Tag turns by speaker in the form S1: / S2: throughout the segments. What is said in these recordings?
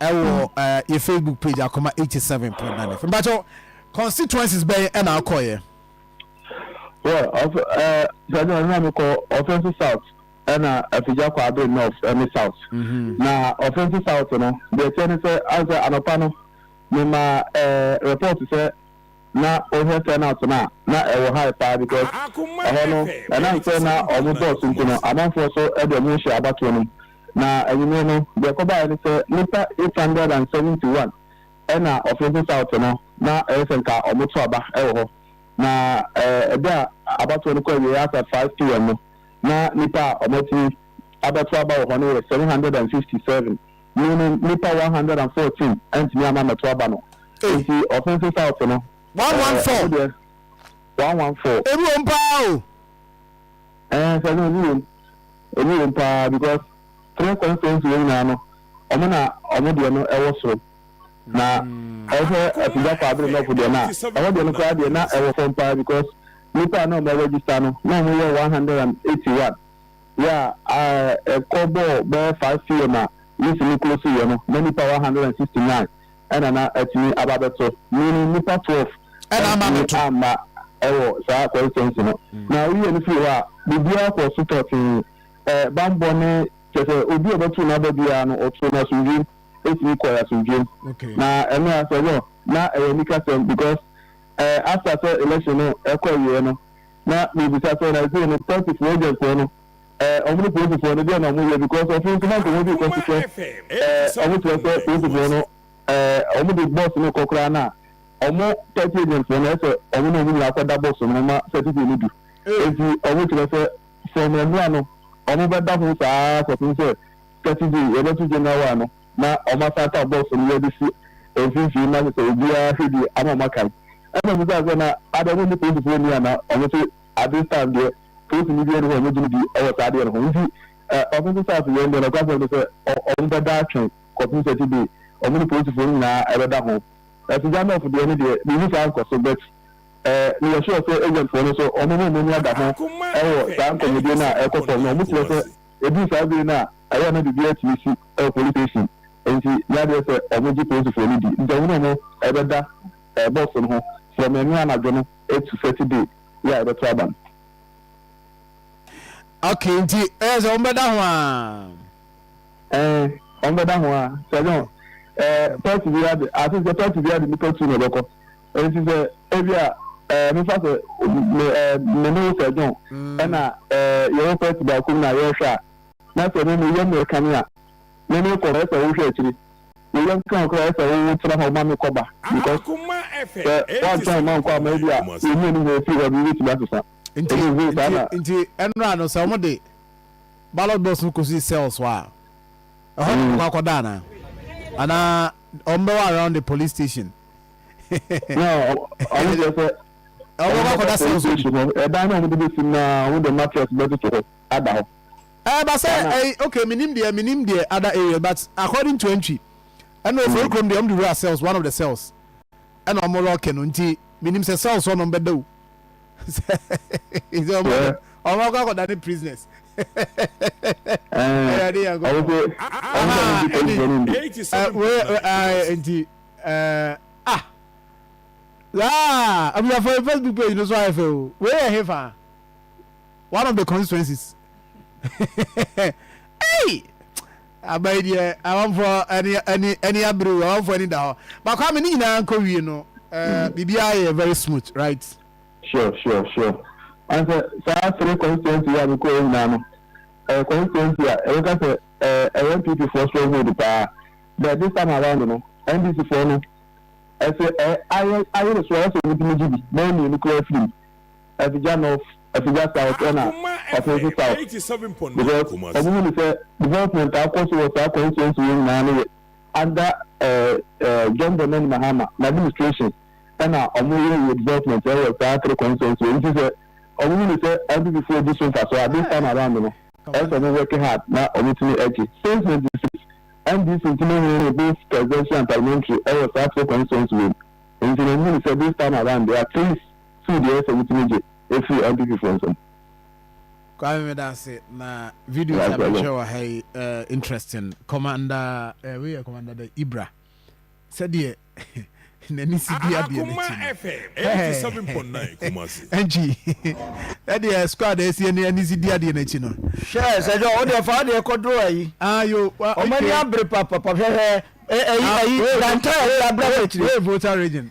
S1: Ɛwɔ yɛ Facebook page Akoma 87.9 FM. Mpakyɛ constituencies bɛyɛ ɛna akɔ yɛ.
S2: Well, of ɛɛ sɛdeɛ ɔno na mi kɔ Ɔfɛnso South ɛna Afigya kɔ Abiri North ɛne South. Mm-hmm. Na Ɔfɛnso South no deɛ ɛkyɛ ne sɛ asɛ anɔpa no mi ma ɛɛ report sɛ na ohwɛ turnout na na ɛwɔ high paa because ɛhɔ no ɛnam sɛ na ɔmo dɔɔso nti no amanfoɔ so ɛde ɔmo hyɛ abatoɔ no mu. Na ewimbir no, dza ɔkɔbae nye sɛ nyimpa eight hundred and seventy one na wɔfrɛ dze South no, na ɔyɛ sɛ nka wɔto aba wɔ hɔ. Na ber a abatow no kɔ ewiei aasa five pm no, na nyimpa a wɔatumi abɛto aba wɔ hɔ no yɛ seven hundred and fifty seven, meaning nyimpa one hundred and fourteen enntum amma ammbɛto aba no. Ntsi wɔfrɛ dze South no, ɔno deɛ
S1: one one four. Ewom paa o! Ɛɛ sɛ no ebi wom
S2: ebi wom paa because three constituency wɔn nyinaa no wɔn na wɔn deɛ no ɛwɔ soro na ɛwɔ sɛ apigya kɔ abiri nɔfo deɛ na ɛwɔ deɛ no koraa deɛ na ɛwɔ fam paa because nipa a na wɔn register no na wɔn yɛ one hundred and eighty one yɛ a ɛkɔ bɔɔ bɛyɛ five pm a list no close yɛ no na nipa one hundred and sixty nine ɛna na atumi aba abɛto, meaning nnipa twelve antumi
S1: amma
S2: wɔ saa constituency no. Na woyɛ no firi hɔ a, biribiara kɔɔ so tɔtee, ɛ, bammɔ ne, kyerɛ sɛ, obi a ɔbɛto n'aba biara no, wɔtoo no asomdwoem, etumi kɔe asomdwoem. Na ɛno ara, sɛ wɔ, na ɛyɛ anikasɛm because, ɛ, after sɛ election no kɔ awieɛ no, na mebisa sɛ, na ɛsei no, party foɔ agent foɔ no, Eh ɔmo ne polisifɔɔ no deɛ na ɔmo yɛ because ɔse nso na nka ɔmo de kɔhwehwɛ eh ɔmo kyerɛ sɛ polisifɔɔ no eh ɔmo de bɔs no kɔ koraa na ɔmo tight agent fɔɔ no ɛsɛ ɔmo na ɔmo nyinaa kɔ da bɔs no ma certificate no du enti ɔmo kyerɛ sɛ from ɛnoa no ɔmo bɛ da ho saa kɔpem sɛ saturday yɛbɛ to general wa no na ɔmo asan aka bɔs no yɛde si mfimfini na kyɛ sɛ obiara hwɛ die ama ɔmo akae ɛna ɔmo bisa sɛ na ada ɔmo ne polisifɔɔ ni ana ɔmo se at this time deɛ Post no bi nni hɔ a wɔagye no di wɔ saa adeɛ no ho. Nti Ɔsoso Saase wei no deɛ, nokwasɛm ne sɛ, wɔn bɛda atwɛn kɔpem Saturday, wɔn ne Polisifoɔ no nyinaa bɛda ho. Syjanov deɛ no deɛ, menni saa nkɔso, but meyɛ sure sɛ agentfoɔ no nso, wɔn ho wɔn ani ada ho wɔ saa nkɔmmɔdie no a ɛrekɔ fam no. Wɔn kyerɛ sɛ, ɛduru saa bere no a, ɛyɛ a na biribiara atumi si wɔ Police Station. Nti nyɛ adeɛ sɛ wɔgye Polisifoɔ no di. Nti wɔn ne wɔn bɛda box no ho from ɛnnɛ anadwo no to Saturday. Yeah, ɛbɛto aba no.
S1: Okay, nti ɛyɛ sɛ wɔbɛda ho a. Eh, wɔn bɛda ho a sɛ no ɛɛ pɛɛti bi adi ase sɛ pɛɛti bi adi nipa tu na ɛbɛkɔ nti sɛ ebi a ɛɛ mefa sɛ me ɛɛ me ne sɛ john ɛna ɛɛ yɛwɔ pɛɛti baako mu na yɛrehwɛ a na sɛ me me yɛ mmerɛka ni a. me me kɔ ɛsɛ wo hwɛ akyiri me yam kra kra ɛsɛ wo wo tena hɔ ma me kɔ ba because sɛ wantwɛn mma nkɔ ama ebi a yɛ mu ani hɔ ofiri hɔ no yɛbɛtumi asesa nti nti nti ɛnora no sɛ wɔn de ballot box no kɔ si cells hɔ a ɛhɔ na wɔkɔ akɔda ana ana wɔn bɛwɔ around the police station na
S2: wɔn deɛ sɛ wɔn bɛkɔ akɔda
S1: cells hɔ ɛdan na
S2: wɔn de bɛsi mu na wɔn de mattress bɛtoto hɔ ada hɔ. Ɛɛ ba sɛ
S1: ɛɛ okay me nim deɛ me nim deɛ other areas but according to Antwi ɛna ofori kurom deɛ ɔmo de wura cells one of the cells ɛna ɔmo lɔɔke no nti me nim sɛ cells hɔ nom bɛ da o sɛ sɛ ɔmo bɛ ɔmo akɔ akɔda ne prisoners ɛɛ ɛwurade yɛ nkɔ pɔ ahaa ɛni ɛɛ wei ɛɛ nti ɛɛ ah laa abusafo facebook page no so ayɛ fɛ o wei yɛ he fa. one of the constituencies ei aba yi deɛ amanfoɔ ɛni ɛni ɛni abiri o amanfoɔ ɛni da hɔ baako ami ne nyinaa nkɔ wie no ɛɛ biribiara yɛ very smooth right. sure sure
S2: sure ansɛ saa three constituency yɛ a mekɔ yɛ nyinaa no ɛyɛ constituency a ɛbɛka sɛ ɛɛ ɛyɛ npp foɔ stronghold paa but this time around no ndc foɔ no ɛsɛ ɛɛ ayɛ ayɛ ne so ayɛ sɛ wɔn ti mi gyi bi bɛyɛ mmienu kura firi mu. Afigya North, Afigya South ɛna Ɔfense South because ɔmo hu no sɛ development a akɔ so wɔ saa constituency wei nyinaa no yɛ under eh, eh, John Dramani Mahama n'administration ɛna ɔmo yɛ yɛ development ɛwɔ saa three constituency wei nti sɛ ɔmo hu no sɛ LDP foɔ di so mfasoɔ a this time around no ɛsɛ ɔmo work hard na ɔmo tumi ɛgye since ninety six NDC nti mo hunu no both presidential and parliamentary ɛwɔ saa three constituency wei nti na ɔmo hu no sɛ this time around deɛ at least Sue deɛ ɛsɛ wotumi gye ɛfiri IPP foɔ nsam. Kwame
S3: medase na videos a mehwɛ wɔ ha yi uh, interesting commander uh, eh, weyɛ commander da ibra sɛdeɛ n'ani si di adeɛ n'akyi
S4: ɛnkyi
S3: ɛdeɛ squad ɛsi ɛni ani si di adeɛ n'akyi no. hwɛ sɛ dɛ
S5: ɔdeɛ fa adeɛ kɔdoro ayi. ayo wa ok ɔmɔ
S3: ni abiri
S5: papapa hwɛhwɛ ɛyi ɛyi dantɛ ɛyi abira wɔ akyire. wei voter region.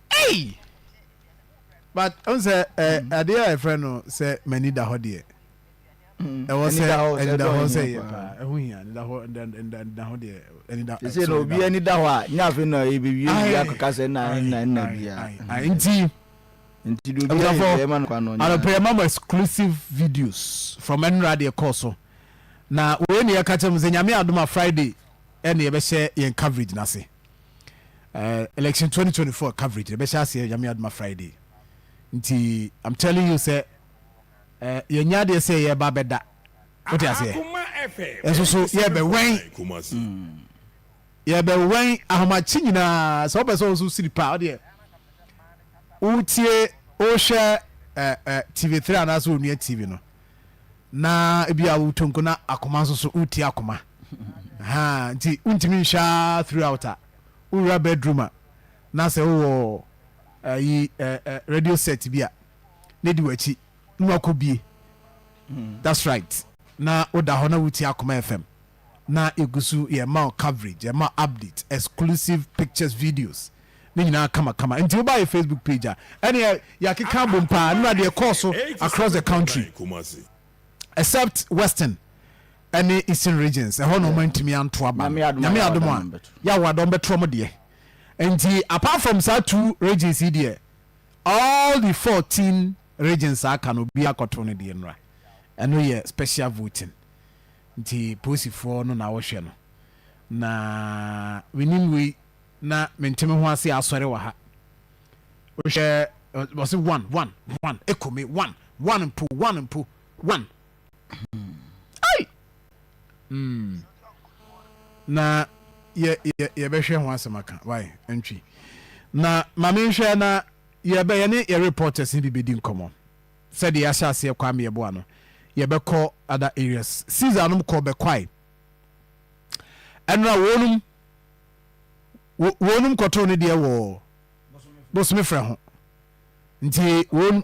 S4: Ei!
S3: But ɔn sɛ ɛ adeɛ a yɛfrɛ no sɛ m'ani da hɔ deɛ. Ɛwɔ sɛ ani da hɔ sɛ yɛ paa. Ɛho hia ani da hɔ ani da hɔ deɛ ani da. Sɛ na obi ani da hɔ
S5: a nyɛ afei na ebewie wie akɔka sɛ na ɛnna ɛnna biara. Nti.
S3: Nti do
S5: bi ayɛ ɛma no kwa no. Anɔpɛ yɛ ma mo exclusive
S3: videos from ɛnura deɛ kɔɔ so na wei ne yɛka kyɛ mo sɛ nyame adom a Friday ɛne yɛbɛhyɛ yɛn coverage n'ase. eh, election 2024 coverage na ɛbɛhyɛ aseɛ nyame adoma friday nti i'm telling you sɛ eh, yɛnyɛ adeɛ sɛ yɛba bɛda wote aseɛ ɛso
S4: so yɛbɛwɛn
S3: yɛbɛwɛn ahomakye nyinaa sɛ wopɛ sɛ wo so siri paa wodeɛ wotie wohwɛ eh, eh, tv 3 anaasɛ onua tv no na ebi a wotonko na akoma nso so wotie akoma Ahaa nti wontumi nhwɛ ara throughout a wowura bedroom a na sɛ wowɔ ayi ɛ ɛ radio set bi a na edi w'akyi na wakɔ bie that's right na woda hɔ na wotie Akoma FM na yɛgu so yɛma wo coverage yɛma wo update exclusive pictures videos ne nyinaa kama kama nti woba yɛ Facebook page a ɛneɛ yɛakeka abom paa na deɛ ɛkɔɔ so across the country except western ɛne eastern regions ɛhɔ na ɔmo antumi anto aba no nyame adom a yawada ɔmo bɛto ɔmo deɛ nti apart from saa two regions yi deɛ all the fourteen regions aka no obi akɔto no deɛ nura ɛno yɛ special voting nti polisifoɔ no na wɔhwɛ no na menim wei na menteme ho ase asɔre wɔ ha wohwɛ wɔse one one one ekome one one mpo one mpo one ai mm na yɛ yɛ yɛbɛhwɛ ho asɛm aka wai ntwi na maame nhwɛ na yɛbɛ yɛne yɛ reporters ne bi bɛdi nkɔmmɔ sɛdeɛ yɛahyɛ aseɛ kwa mmeɛboa no yɛbɛkɔ other areas caesar nom kɔ bɛkwae ɛnora wɔnom wɔnom kɔtoo ne deɛ wɔ bosome frɛ ho nti wɔn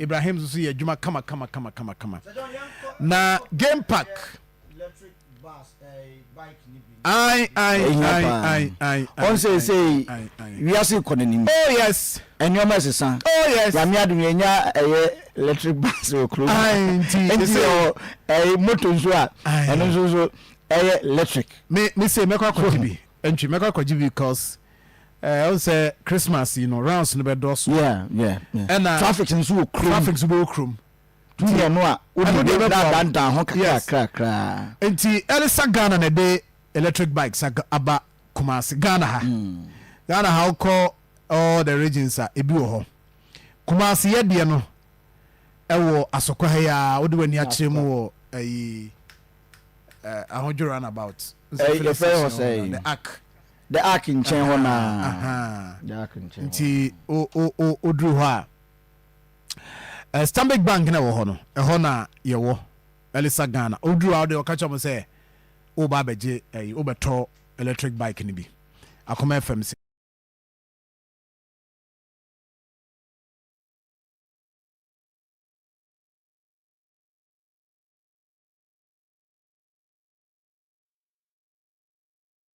S3: Ibrahim nso yɛ adwuma kama kama kama kama kama. Na game park.
S5: Ayi ayi ayi
S3: ayi ayi. Wɔn sɛ
S5: sɛ wiase kɔ n'anim. Oh yes.
S3: Nneɛma ɛsesa.
S5: Oh yes. Yàmi adum yɛ
S3: nya
S5: ɛyɛ electric bus wɔ kuro mu. Ayi nti nti ɛwɔ
S3: ɛyɛ
S5: moto nso a ɛno nso nso ɛyɛ electric. Mi mi se
S3: mɛkɔ akɔgye bi ntwi mɛkɔ akɔgye bi cause. Eh, ɔn sɛ Christmas yi no rounds no bɛ dɔso. Yeah, yeah, yeah.
S5: Ɛna traffic
S3: nso wɔ
S5: kurom. Traffic nso bɛ wɔ kurom.
S3: Tu yɛ
S5: no a, o de bɛ bɛ bɔ dandan ho kakra kakra. Nti ɛlisa
S3: Ghana na ɛde electric bikes aba Kumasi Ghana ha. Mm. Ghana ha ɔkɔ all the regions a ebi wɔ hɔ. Kumasi yɛ deɛ no ɛwɔ asokwa ha yi a o de wɔ ani akyerɛ mu wɔ ɛyi eh, ahodwo runabout. Ɛfɛ wɔ sɛ. The arc.
S5: The ark nkyɛn hɔ no ara. Aha,
S3: The
S5: ark nkyɛn hɔ.
S3: Nti o o o
S5: oduru hɔ
S3: a,
S5: eh,
S3: Stanbic Bank na ɛwɔ hɔ no, ɛhɔ na yɛwɔ Elisa Ghana. Oduru a ɔde ɔka kyerɛ mo sɛ woba abɛgye ɛyi, wobɛtɔ electric bike no bi. Akoma FM se.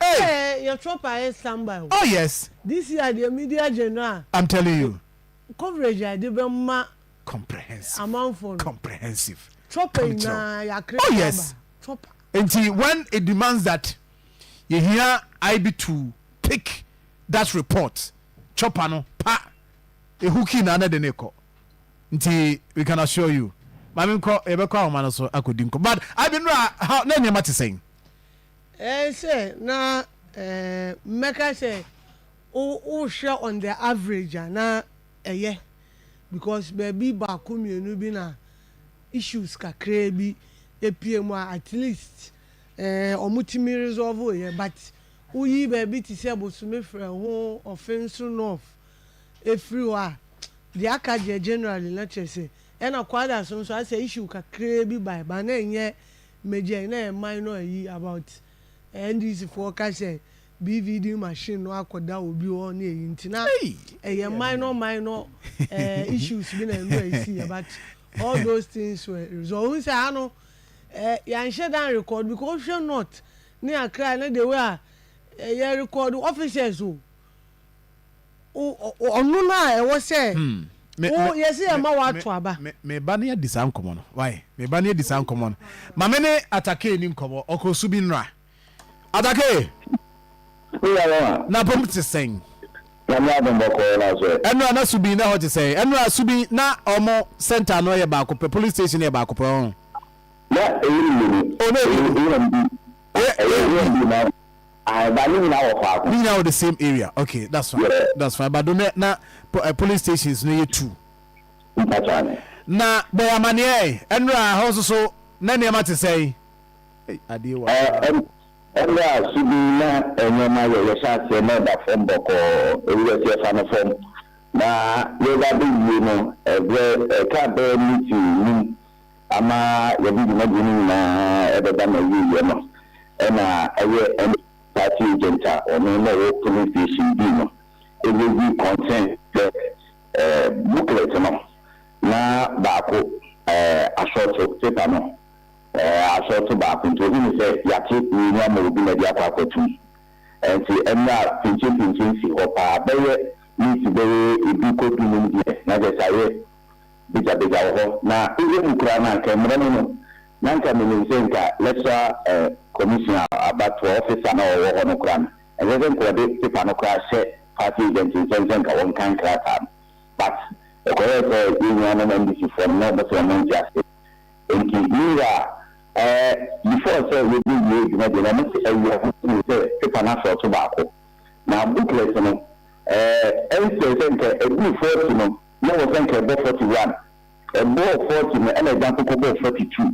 S3: Hey! Hey
S5: yɛ trump ayɛ stand by o. Oh yes. This
S3: year deɛ media
S5: general a. I'm telling you.
S3: Coverage a yɛde
S5: bɛ ma. Comprehensive.
S3: Amanfoɔ no.
S5: Comprehensive.
S3: Chopper nyinaa
S5: yɛ akre. Oh yes.
S3: Chopper. Nti
S5: when
S3: it demands that yɛ hia IB to pick that report chopper no pa ehu kii na na de ne kɔ nti we can assure you maame nkɔ yɛbɛkɔ ahoma no so akɔdi nkɔ but IB nura how na nneɛma te sɛn. Ɛɛ sɛ
S5: na ɛɛ mɛka sɛ wo wohwɛ on the average a na ɛyɛ because baabi baako mmienu bi na issues kakraa bi pue mu a at least ɛɛ wɔtumi resolve yɛ but woyi baabi te sɛ Bosomefrɛ ho Offinso North firi hɔ a deɛ aka deɛ generally na kyerɛ sɛ ɛna Kwadaso nso ayɛ sɛ issue kakraa bi bae but na ɛnyɛ Megyɛn na yɛ man no ayi about NDC foɔ ka sɛ BVD machine no akɔda obi hɔ ne ayi nti na ɛyɛ minor minor issues bi na ɛno na ɛsiiɛ but all those things were resolved. Wohu sɛ ha no yɛanhyɛ da anrecord because wohwɛ North ne Accra ne the way a yɛrecord officers o, ɔno no a ɛwɔ sɛ wo yɛsi yɛ ma wato aba. meba ne adi saa
S3: nkɔmɔ no wae meba ne adi saa nkɔmɔ no ma me ne atakee ni nkɔmɔ ɔkɔ su bi nnora atakee na pom te sɛn ɛnora na su bi na hɔ te sɛn ɛnora su bi na ɔmo center no yɛ baako pɛ police station yɛ baako pɛ ɔn na ɛyɛ
S1: mmienu o na ɛyɛ mmienu ɛyɛ mmienu Ae ba ne nyinaa wɔ faako. Ne nyinaa wɔ the
S3: same area ok that's fine yeah. that's fine but donnɛ na polling stations no yɛ two. Mpakyɛw ne. Na bɔ yɛn amaneɛ ɛ ɛnora hɔ nso so na nneɛma te sɛn? Ei adeɛ wɔ ha
S1: paa. Ɛnora so bi na nneɛma yɛ yɛhyɛ aseɛ na ɛda fam bɔkɔɔ ebi bɛsi ɛfa no fam na yɛba bɛwie no ɛbrɛ ɛka bɛɛ miti num Ama yɛde dwumadie no nyinaa bɛba n'awieɛ no, ɛna ɛyɛ ɛne party agent a ɔno na ɔwɔ polling station bi no raise concern sɛ booklet no na baako asɔɔto paper no asɔɔto baako nti ɔhunu sɛ yɛate mmienu ama obi na ɛde akɔ akwatum nti ɛna pinkyenpinkyen si hɔ paa bɛyɛ minti bɛyɛ du kɔ du num deɛ na kyerɛ sɛ ayɛ begyabegyaw hɔ, na eyi mu koraa no anka mmara mu no, na anka minim sɛ nka Lecturer eh Commission a abatoɔ officer no a ɔwɔ hɔ no koraa no, ɛnsɛ sɛ nka wɔde paper no koraa hyɛ party agent nsam sɛ nka wɔnkan krataa no. But ɛkɔyɛɛ sɛ yɛn nuanom NDCfoɔ no na wɔn sɛ wɔn nte aseɛ, enti me wura eh before sɛ yɛbɛwie adwuma deɛ na wɔn se ɛyɛ ho sene sɛ paper no asɔɔto baako, na booklet no eh ɛnsɛ sɛ nka ɛduru forty no, na ɔwɔ sɛ nka ɛbɔ forty one, ɛbɔɔ forty no ɛna ɛsan nso kɔbɔɔ forty two,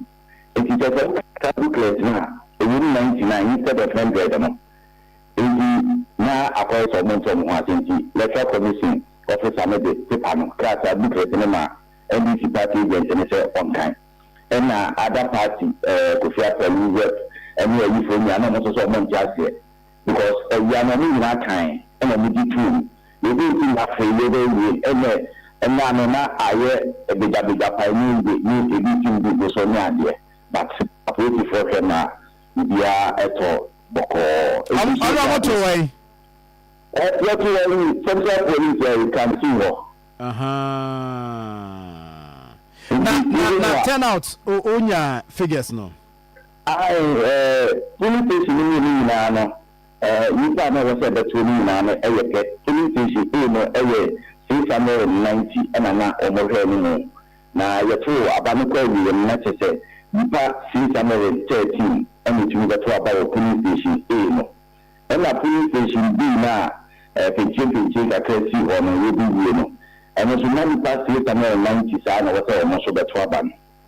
S1: nti kyerɛ sɛ wo ka booklets no a ɛwɔ mu ninety nine instead of hundred no, nti na akɔyɛ sɛ wɔnte wɔn ho ase nti Electoral Commission officer no de paper no, krataa, booklet, no maa NDC party agent no sɛ ɔnkan, ɛna other party ɛɛ Kofi Asawu rep ne ayifoɔ nyinaa na wɔn nso sɛ wɔnte aseɛ, because ɔwia no ɔmo nyinaa kan ɛna ɔmo gye toom na ɛdee nti na afei yɛbɛ wie ɛnɛ ɛnɛ ano na ayɛ ɛbegya begya paa ɛnyɛ yie ne ɛbi tim gu bo so ne adeɛ but apolisifoɔ hwɛ ma biribiaa ɛtɔ bɔkɔɔ ɛnti nso Ɔno ɔmo to wɛn?
S3: Ɛ
S1: yɛto wɛn yi central police ɛyi kanteen hɔ. Ahaa
S3: na na na turn out o onya figures no. Ae, eh,
S1: polling station no mu no nyinaa no, eh, nnipa a na ɛwɔ sɛ ɛbɛtow no nyinaa no yɛ pɛ. Polling station A no yɛ six hundred and ninety na na wɔhwɛɛ no mu, na yɛtow aba no kɔ awiei no, na kyerɛ sɛ nnipa six hundred and thirteen na etumi bɛtow aba wɔ polling station A no. Ɛnna polling station B no a, eh, pentiempentie kakra sii hɔ no, yɛde wie no, ɛno nso na nnipa six hundred and ninety saa na ɛwɔ sɛ wɔn nso bɛtow aba no.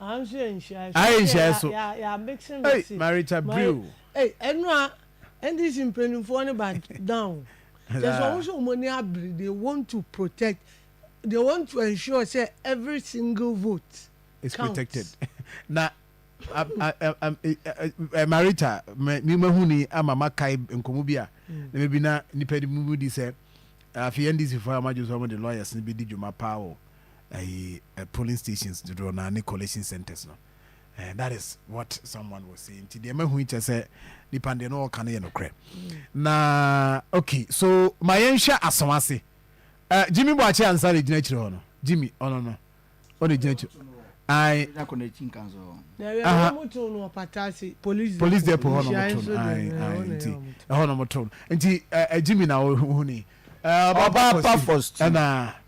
S5: Ahyia so. Hey, Marita
S3: Brew. Hey, ɛnu a
S5: NDC mpanyinfoɔ ne ba down. Kyɛ sɛ wɔn sɛ wɔn ni abiri they want to protect they want to ensure sɛ every single vote is counts. protected.
S3: Na Marita mi ma hu ni ama ma kae nkɔmɔ bi a mm. na mebi na nipa ni mu di sɛ afei NDC fo a wɔn adwo sɛ wɔn de lawyers ni bi di dwuma paa wɔ ɛyi polling stations dodoɔ naa ne collation centres no eh, that is what someone was saying nti deɛ mahu kyɛ sɛ nipa deɛ no ɔka no yɛ nokorɛ na okay so ma yɛnhwɛ aso ase uh, Jimmy Boakye ansa de gyina akyire hɔ no Jimmy ɔno no ɔde gyina akyire ayi
S5: police depot hɔ na ɔmo to
S3: no ayi ayi nti ɛhɔ na ɔmo to no nti ɛɛ Jimmy na ɔhuni. Uh, Obapa
S6: First. And uh,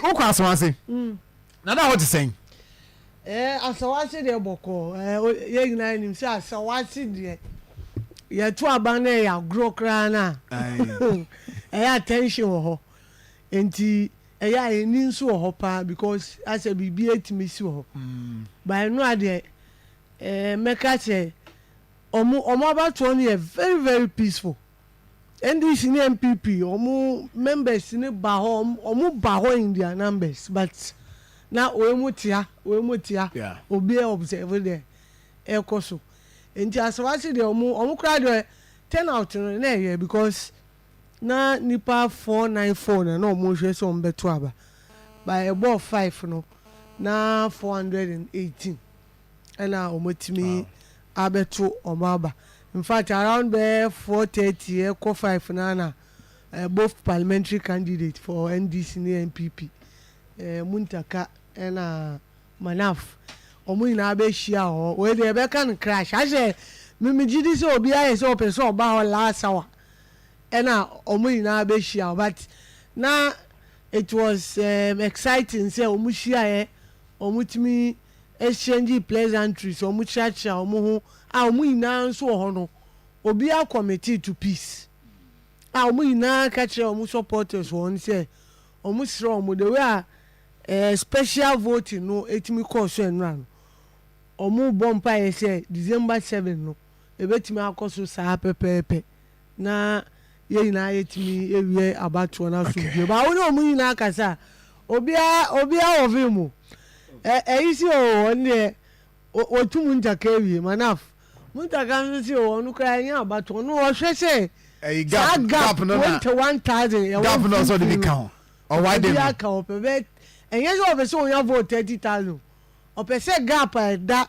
S6: wokɔ
S3: asawase mm. na na hɔ te sɛn eh,
S5: asawase deɛ bɔkɔɔ eh, yɛ nyinaa nim sɛ asawase deɛ yɛto aban no ɛyɛ agorɔ koraa no a ɛyɛ attention wɔ hɔ nti ɛyɛ a yɛni nso wɔ hɔ paa because asɛ biribi atumi si wɔ hɔ mm. baɛno adeɛ Eeh mɛka kyerɛ ɔmo ɔmo abatoɔ no yɛ very very peaceful NDC ne NPP ɔmo members no ba hɔ ɔmo ba hɔ in their numbers but na wei mo tea wei mo tea obiara observe deɛ ɛkɔ so nti asawase deɛ ɔmo ɔmo koraa deɛ turn out no na ɛyɛ because na nipa four nine four na na ɔmo hwɛ sɛ ɔmo bɛto aba by ɛbɔɔ five no na four hundred and eighteen. ɛna wɔn atumi abɛto wɔn aba infact around bɛyɛ four thirty ɛkɔ five no ana eh, both parliamentary candidate for ndc ne npp eh, muntaka ɛna manaf wɔn nyinaa bɛhyia hɔ wei deɛ ɛbɛka no crash ahyɛ memegye di sɛ obi ayɛ sɛ ɔpɛ sɛ ɔba hɔ last hour ɛna wɔn nyinaa bɛhyia hɔ but na it was um, exciting sɛ wɔn hyiaeɛ wɔn tumi exchanging pleasantries, wɔn kyeakyea wɔn ho a wɔn nyinaa nso wɔ hɔ no, obiara committed to peace a wɔn nyinaa ka kyerɛ wɔn supporters wɔn sɛ wɔn srɛ wɔn the way a eh, special voting no etumi kɔɔ so ɛnora no, wɔn bɔ mpaeɛ sɛ December seven no ebetumi akɔ so saa pɛpɛɛpɛ. na yɛn nyinaa yɛtumi awie abatoɔ no asomdwoeɛ baa wo ne ɔmo nyinaa kasa a obiara obiara wɔ vim o ɛ ɛyi si o wɔn deɛ wɔtu mu ntaka awie manaf mu ntaka nso si o wɔn koraa ɛnyɛ abatoɔ no wɔhwɛ sɛ ɛyi saa gap gap gap no na twenty one thousand ɛwɔ gap no a ɔsɛ ɔde bi
S3: mfimfini ka no ho ɔwae dɛ obi no aka ɔpɛ bɛ
S5: ɛnyɛ sɛ ɔpɛ sɛ ɔnya vote thirty thousand ɔpɛ sɛ gap a ɛda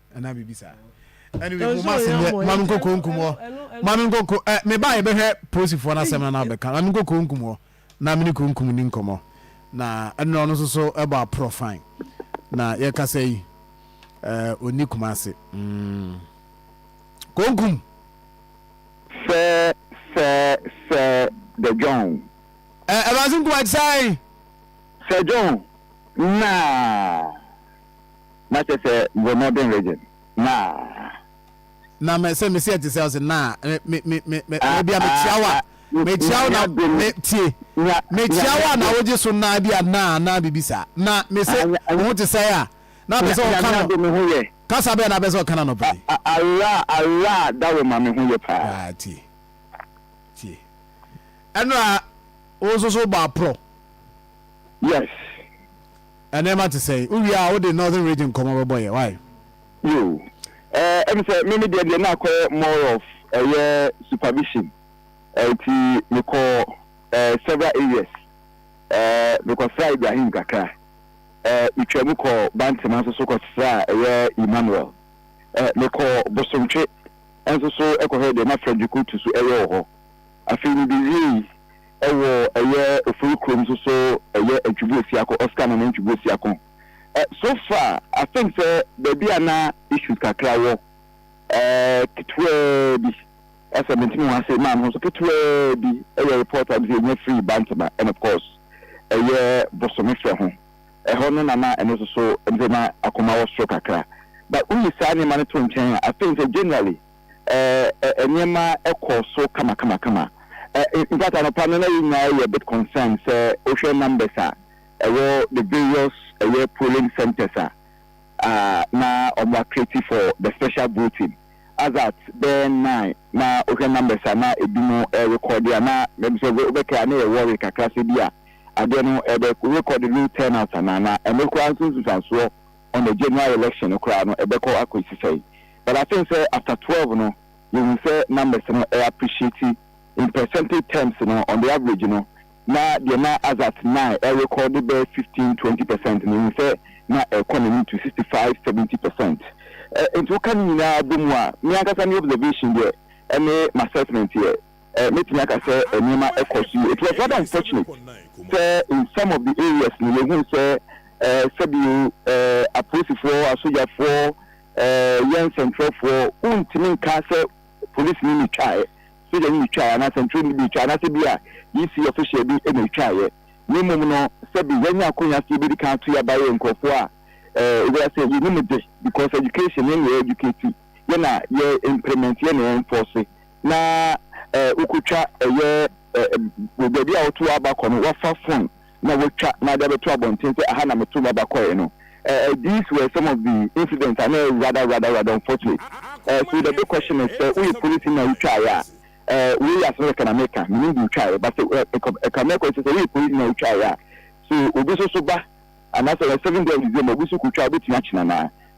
S3: anaa biribi saa anyway mo ma se nyɛ ma no nkɔ konkum hɔ ma no nkɔ ko ɛ eh, me ba yɛ bɛhwɛ polisifoɔ no asɛm no na abɛka ma no nkɔ konkum hɔ na me ne konkum ni nkɔmɔ na ɛnna ɔno nso so ɛbɔ aporɔ fine na yɛkasa yi ɛɛ ɔni kuma ase mm. konkum
S1: sɛ sɛ sɛ the john ɛ ɛbaase
S3: nkuma ti sɛ sɛ
S1: john naa Na kyɛ sɛ mewɔ Northern Region, naa. Na me, sɛ mesi ɛte sɛ ɔse,
S3: naa me, me, me, me, me, Ah, ebia mekyia wo a, ah, ah, mekyia wo na, nya dom, me, tie, nya, nya, mekyia wo a na nya, wogye so naa ebia naa naa biribi saa. Na me se, ah, wo ho te sɛn a, na apɛ nya, sɛ ɔka Nyame no, adom me ho yɛ. kasa bɛn na apɛ sɛ ɔka no anɔpa yi? Ah, ah, araa, araa,
S1: Dawema me ho yɛ paa. Ah, tie,
S3: tie. Ɛnora, wo nso so wobɔ aprɔ?
S1: Yes.
S3: Nneɛma te sɛn? Wo wie a wo de Northern Region nkɔmmɔ bɛbɔ yɛ, why? Yoo,
S1: ɛɛ ɛm sɛ me me deɛ deɛ na akɔyɛ more of ɛyɛ supervision, ɛɛ nti me kɔ ɛɛ several areas, ɛɛ me kɔ sraa Ibrahim kakra, ɛɛ me twa mu kɔ Bantema nso so kɔ sraa ɛyɛ Emmanuel, ɛɛ me kɔ Bosontwe nso so ɛkɔ hwɛɛ deɛ na Frederick Otu so ɛyɛ wɔ hɔ. Afei mibewiei wɔ ɛyɛ Ofori kurom nso so ɛyɛ ntwebo asia kɔ Oscar Nana ntwebo asia kɔ. So far I think sɛ baabi a na issues kakra wɔ ketewaa bi sɛ mentumi ho ase maa me ho so ketewaa bi yɛ report a mese yɛnya firii Bantama and of course ɛyɛ Bosomefrɛ ho. Ɛhɔ no na na ɛno nso so mese na akoma wɔ soro kakra but woyi saa nneɛma no to nkyɛn a I think sɛ generally eh, nneɛma kɔɔ so kamakamakama. Eh, in fact, anɔpa no na yɛn nyinaa yɛ bit concerned sɛ wohwɛ numbers a ɛwɔ the various ɛyɛ eh, polling centers a ah, na wɔn acreate for the special voting as at bɛyɛ nine na wohwɛ numbers a na ebi mu ɛrekɔde a na mɛbi sɛ wobɛka a na yɛ worry kakra sɛ bi a adeɛ no ɛbɛ record real turnout anaa na ɛno koraa nso nsusuansoɔ on the general election no koraa no ɛbɛkɔ akɔsi sɛn but I think sɛ after twelve no yɛhu sɛ numbers no ɛ appreciate in percentage terms no on the average no na deɛ na as at nine ɛrekɔ de bɛyɛ fifteen twenty percent no yɛhu sɛ na ɛrekɔ n'anim to sixty five seventy percent ɛ nti woka ne nyinaa bɔ mu a me ankasa me observation deɛ ɛne m'assessment yɛ. mɛtumi aka sɛ nneɛma kɔ so yie. It was rather unfortunate sɛ in some of the areas no yɛhuu sɛ sɛbio apolisifoɔ, asogyafoɔ, yɛn nsɛntwerɛfoɔ wontumi nka sɛ polisini na ɛtwaeɛ, sogyani na ɛtwaeɛ anaa sɛntwerɛni bi ɛtwaeɛ anaasɛ bi a EC official bi na ɛtwaeɛ na mmom no sɛbi yɛanya akɔnya sɛ yɛbɛdi kan ato yɛ abayɛ nkurɔfoɔ a ɛwura sɛ yɛnim de because education yɛn na yɛ educate yɛ na yɛ implement yɛ na yɛ enforce na eh wo kɔ twa ɛyɛ eh wɔ baabi a wo to w'aba kɔ no wa fa phone na wa twa na de abɛto abɔnten sɛ aha na me to m'aba kɔɛ no eh eh these were some of the incidents a na ɛyɛ rather rather rather unfortunate eh so the big question is sɛ wo yɛ police na wo twa yɛ a eh wei yɛ asɛm kɛkɛ na me ka me nim de twa yɛ but sɛ eh ɛka ɛka mɛ kɔ sɛ sɛ wo yɛ police na wo twa yɛ a so obi so so ba anasɛ seven day of December obi so kɔ twa a obetumi akyina naa.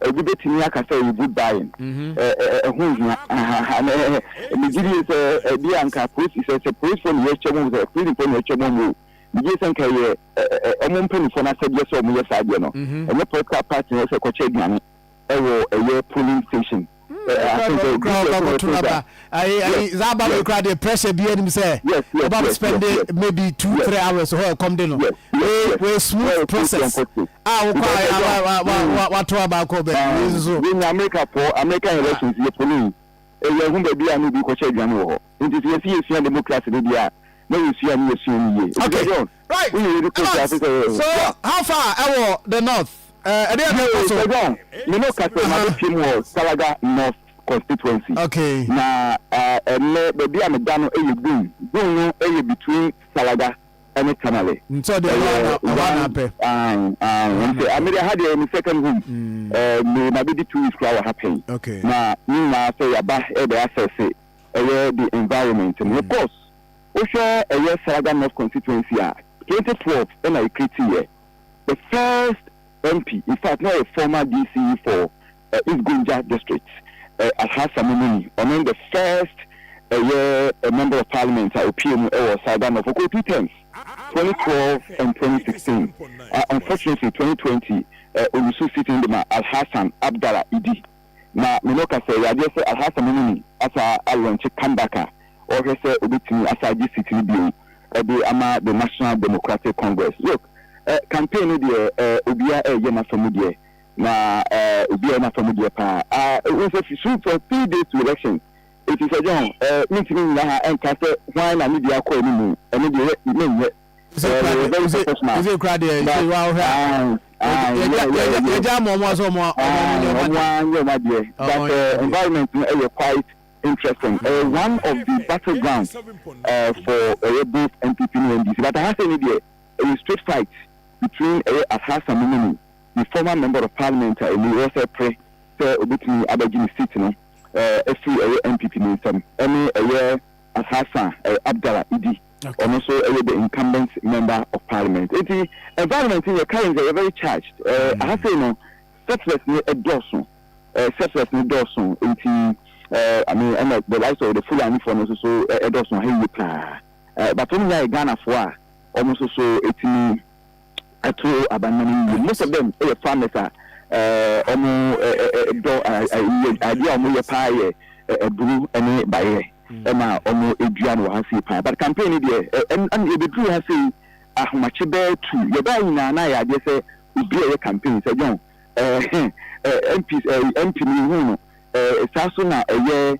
S1: Obi betumi aka sɛ wo good buying ho nhia. Migye die sɛ ebia anka polisi sɛ sɛ polisifo na yɛtwa mu sɛ prisonfo na yɛtwa mu o, migye sɛ anka ɛyɛ wɔn mpanyinfo no asɛdeɛ sɛ wɔn yɛ saa adeɛ no. Ɛnyɛ political party na ɛsɛ kɔkyɛ aduane ɛwɔ ɛyɛ polling station. Ɛɛ asɛm sɛ obi yɛ sɛ ɔbɛtɔ gya.
S3: ayi ayi za aba wei kura deɛ pressure bi anim sɛ ɔba bɛ spend maybe two three hours hɔ ɛkɔm de no wei wei smooth process a wokɔ a ya wa wa wa wa wato aba akɔ bɛ wei nso. yɛn nyɛ amerika
S1: fɔ american elections yɛ polling ɛyɛ ɛho baabi a na obi kɔhyɛ aduane wɔ hɔ nti sɛ yɛsi yɛsua democracy de deɛ a na yɛsua ne yɛsua ne yie. okay
S3: right Evans so how far ɛwɔ the north ɛdeɛ na ɛkɔ so. ɛdɔn mene kasa
S1: na bɛ pie mu wɔ salaga north. constituency. Okay. Na ɛnɛ eh, baabi a meda no yɛ Gun. Gun no yɛ between Salaga ɛne Tamale. Nti ɔde ɛhɔ ana
S3: ɛhɔ ana apɛ.
S1: Nti amede ha deɛ ɛmi second home. Mm. Eh, me ma bedi two weeks kura wɔ ha pɛn. Okay. Na ne
S3: nyinaa sɛ
S1: yaba ɛbɛ asɛse ɛyɛ the environment. Mm. Of course, wohwɛ ɛyɛ Salaga North constituency a 2012 ɛna ɛkreti yɛ the first MP in fact na ɔyɛ former DC for East Gonja District, Alhassan Momeni, ɔno ne the first ɛyɛ Member of Parliament a ɔpue mu wɔ Southern North, ɔkɔɔ two terms, 2012 and 2016. Unfortunately, 2020 ɔlusu seat no de ma Alhassan Abdalla Idi. Na me ne wo ka sɛ ɛyɛ adeɛ sɛ Alhassan Momeni asaa alɔnkye come back a ɔrehwɛ sɛ ɔbɛtumi asaa gye seat no bio de ama the National Democratic Congress. Look, campaign no deɛ obiara ɛreyɛ n'afa mu deɛ, Na eh obi a ɔyɛ n'afa mu deɛ paa ah wohu sɛ fi so for three days to election enti Sir John eh mentumi nnyina ha nka sɛ hwan na ne deɛ akɔ anim ɛno deɛ yɛ menyɛ Ose eh kura wɔyɛ deɛ
S3: very ose professional ose kura deɛ ose but woahwɛ a ah ah yɛgya yɛgya yeah yeah yɛgya yeah yɛgya ama wɔn sɛ wɔn wɔn
S1: wɔn nyɛ ah wɔn wɔn adeɛ ara nyɛ wɔn adeɛ wɔn but wɔn nyɛ eh wɔn adeɛ. environment no ɛyɛ quite interesting ɛyɛ one of the battle ground eh for ɛyɛ both NPP ne NDC but aha sei ne deɛ ɛyɛ straight fight between ɛyɛ Aphasa Momeni ne former member of parliament a emu wɔ sɛ pere sɛ obetumi abɛgye ne seat no afiri ɛyɛ NPP no nsam ɛne ɛyɛ Alhassan Abdallah Idi, ɔno nso ɛyɛ the incumbent member of parliament. Enti environment no yɛ currently ɛyɛ very charged, aha sei no settlers no dɔɔso, settlers no dɔɔso enti I mean ɛna the likes of the Fulani foɔ no nso so ɛdɔɔso aha yie paa but wɔn nyinaa yɛ Ghanafoɔ a wɔn nso so etumi ato aba no no yie. Most of them yɛ farmers a wɔn dɔ adeɛ a wɔyɛ paa yɛ aburu ne bayerɛ ɛna wɔn dua no wɔ ha sei paa. But campaign no deɛ ɛna yɛbɛduru ha sei ahomakye bɛɛ tu yɛbaa nyinaa na ayɛ adeɛ sɛ obi a ɛyɛ campaign sɛ John MP MP no yɛhu no saa so na ɛyɛ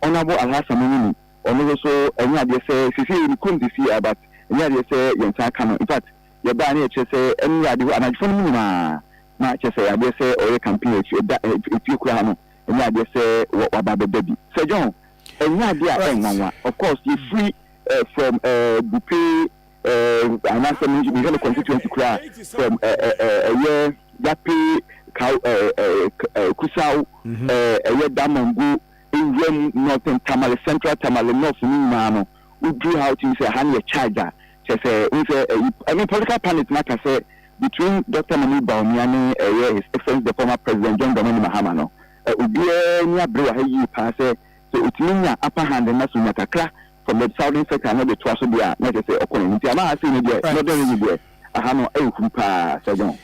S1: Honourable Alhassan Mumuni Ɔno no so ɛnyɛ adeɛ sɛ sesei ne kurom sesei a but ɛnyɛ adeɛ sɛ yɛnsan ka no infact yɛbaɛ no yɛ kyerɛ sɛ ɛnora ade hɔ anadwofoɔ no mu nyinaa na kyerɛ sɛ adeɛ sɛ ɔyɛ campaign akyi ɛda efie kura ha no ɛnyɛ adeɛ sɛ waba abɛda bi Sir John ɛnyɛ adeɛ a ɛnwanwa of course yɛfiri eh, from eh, Bupe eh, anaasɛ me mehwɛ no constituency koraa from eh, eh, eh, ɛyɛ Yape Kaw eh, eh, eh, Kusaw mhm. eh, ɛyɛ Damango Nwamu, Northern Tamale, Central Tamale, North no nyinaa no wo duru ha wo tumi sɛ ɛha no yɛ charge a kyerɛ sɛ wohu sɛ ɛyi I mean political pundits no aka sɛ between Doctor Mahmood Bawumia ne ɛyɛ His Excellency the former President John Dramani Mahama no ɛ obiara ani abere wɔ ha yie paa sɛ sɛ otumi nya upper hand no na sɛ onya kakra from the Southern sector na ɔde toa so deɛ a na kyerɛ sɛ ɔkɔ n'anim nti ama ha sei no deɛ Northern region deɛ aha no ayɛ huru paa Sir John.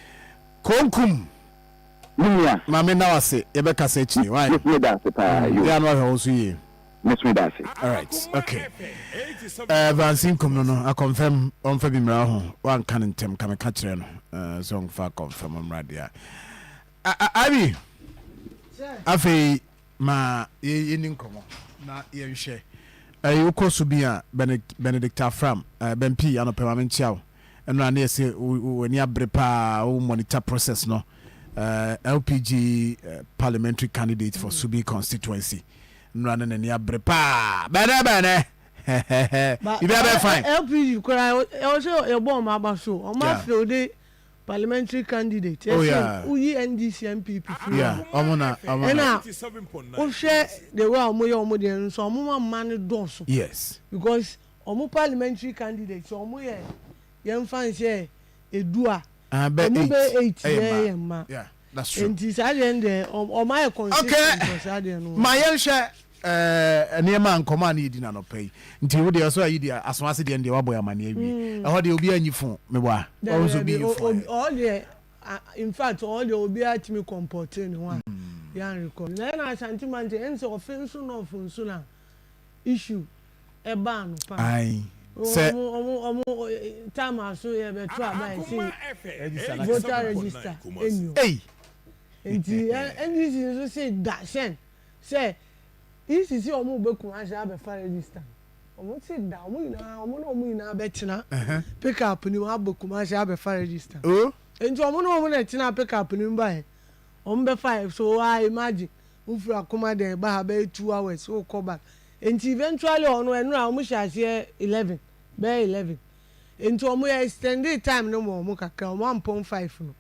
S1: Konkum.
S3: Me
S1: nua. Maame nna wo ase
S3: yɛbɛka sa akyire wai. Miss me da ase paa yoo. Yɛa no wahwɛ wo so yie. Miss me da ase.
S1: Alright
S3: ok eh Vansi nkumno no akɔnfɛm ɔnfa bi mmra ho wanka no ntɛm ka meka kyerɛ no eh sɛ ɔnfa akɔnfɛm mmra deɛ a a Abi afei ma yɛni nkɔmɔ na yɛnhwɛ ɛyi wokɔ so bi a Benedict Afram eh, Bɛmpi anɔpɛ ma menkyia wo. ɛno a na yɛse w'ani abere paa wo monitor process no eh, LPG eh, parliamentary candidate for Subi constituency nnora no n'ani abere paa bɛnɛ bɛnɛ
S5: biribi
S3: abɛɛ
S5: fine LPG koraa
S3: ɛwɔ sɛ
S5: yɛbɔ ɔma aba so ɔma yeah.
S3: afrɛ
S5: ode parliamentary candidate oh, ɛsɛ woyi
S3: NDC
S5: MPP firi ɔmo na
S3: ɛna
S5: wohwɛ the way a wɔyɛ wɔn deɛ nso wɔn ma mma no dɔɔso yes because
S3: Ɔmo
S5: parliamentary candidates ɔmo yɛ yɛn nfa nhyɛ edu a ɔmo bɛ
S3: eight yɛ
S5: yɛn mma nti
S3: saa deɛ no deɛ
S5: ɔmo ayɛ consistent wɔ saa deɛ no ho. Ma yɛn
S3: hwɛ ɛɛ nneɛma a nkɔmɔ a ne yɛ di no anɔpa yi nti wo deɛ ɔsɛ ayi deɛ aso ase deɛ no deɛ wabɔ yɛn amaneɛ awie ɛhɔ deɛ obiara nyi phone me wa ɔho nso obi nyi phone ayɛ. Ɔhɔ deɛ
S5: in fact ɔhɔ deɛ obiara tumi compɔtee ne ho a yɛn record na yɛn Ashanti man deɛ ɛnsɛ ɔfe nso nɔɔfo nso na. issue ɛbaa no paa. Ae sɛ.
S3: Ɔmo ɔmo ɔmo
S5: time a so yɛ bɛto aba yɛ se voter register ɛnni hɔ. Ei. Nti NDC nso se da hyɛn sɛ EC se ɔmo bɛ Kumasi abɛfa register no. Ɔmo se da ɔmo nyinaa ɔmo ne ɔmo nyinaa bɛtena pick up no mu aba Kumasi abɛfa register no. Nti ɔmo ne ɔmo na ɛtenaa pick up no mu baeɛ. Wɔn bɛfa yɛ so aa imagine wo firi akoma dɛ ba ha bɛyɛ two hours wo kɔ ba nti eventually hɔ no ɛnora wɔn hyɛ aseɛ eleven bɛyɛ eleven nti wɔn yɛ extendee time no ma wɔn kakra wɔn ampɔn five no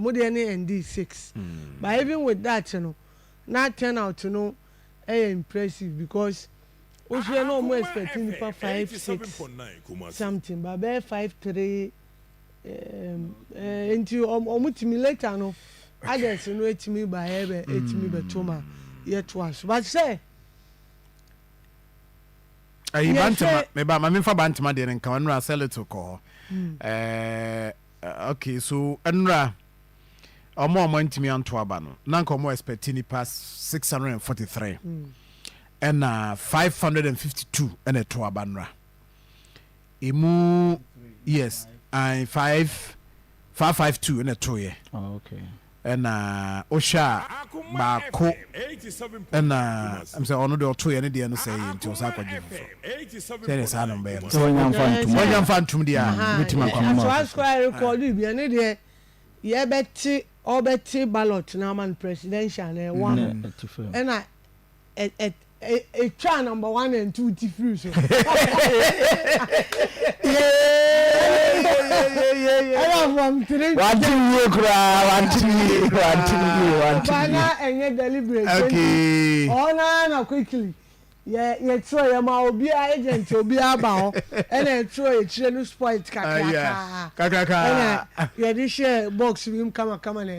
S5: wɔn deɛ no endee six but even with that no na turn out no ɛyɛ impressive because wo hwɛ na wɔn expect nipa five six something but bɛyɛ five three. Nti ɔmo tumi later no others no etumi ba yɛ bɛ etumi bɛ to ma yɛ to aso but sɛ.
S3: Ɛyi bantama meba ma menfa bantama deɛ no nka ɔnura sɛ little kɔ hɔ ɛɛ okay so ɛnura ɔmo a ɔmo antumi anto aba no na nka ɔmo expect nipa six hundred and forty three ɛna five hundred and fifty two ɛna ɛto aba nura. emu yes and five five five two ɛna to yɛ oh,
S6: ɛna
S3: wohwɛ a baako ɛna ɛm sɛ ɔno deɛ ɔto yɛ ne deɛ no sɛ yɛ nti ɔsa akɔgye foforɔ sɛdeɛ saa no bɛyɛ no sɛ wanya
S6: mfa ntom deɛ a
S3: wobɛtumi akɔmɔsɔasɔarekɔde
S5: ne deɛ yɛbɛte ɔbɛte ballot no ama no presidential na ɛwɔ ano ɛna ɛtwaa number one and two ti firi so ɛna from three wante wie koraa
S6: wante wie wante wie wante wie na ɛnyɛ
S5: deliberate okay
S3: ɔna na
S5: quickly yɛ yɛ twerɛ yɛ ma obi a agent obi aba hɔ ɛna ɛtwerɛ yɛ kyerɛ no spoil kakraka kakraka
S3: ɛna yɛde
S5: hyɛ box bi mu kama kama na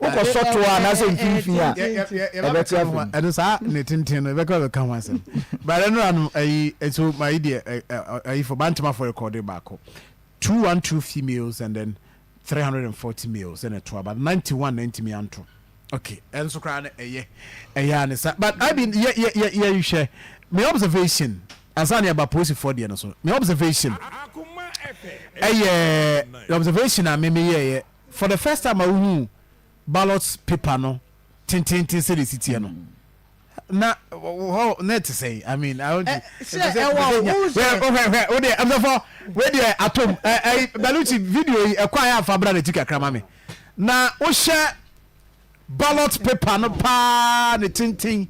S6: Wokɔ sɔ toɔ a nasɛ mfimfini a ɛbɛte afiri mu. Ɛno saa ne tenten
S3: no ɛbɛka bɛka ho asɛm. Bɛrɛ no ano ayi so ma yi deɛ ayi fo bantama fo rekɔde baako. 212 females and then 340 males ɛna ɛto aba 91 na ntumi anto. Okay, ɛnso koraa no ɛyɛ ɛyɛ a ne sa but I mean yɛ yɛ yɛ yɛ nhwɛ me observation ansa ne ɛba polisifoɔ deɛ no so me observation ɛyɛ observation a me meyɛɛyɛ for the first time a wohuu ballot paper no tenteenten sɛdeɛ ɛsi teɛ no na hɔ na ɛte sɛ i mean i want to sɛ ɛwɔ wo sɛ hwɛ wo deɛ ɛmsɛfɔ wei deɛ atom ɛyi baluchi video yi ɛkɔ ayɛ afa bra n'akyi kakra ma me na wohyɛ ballot paper no paa ne tenten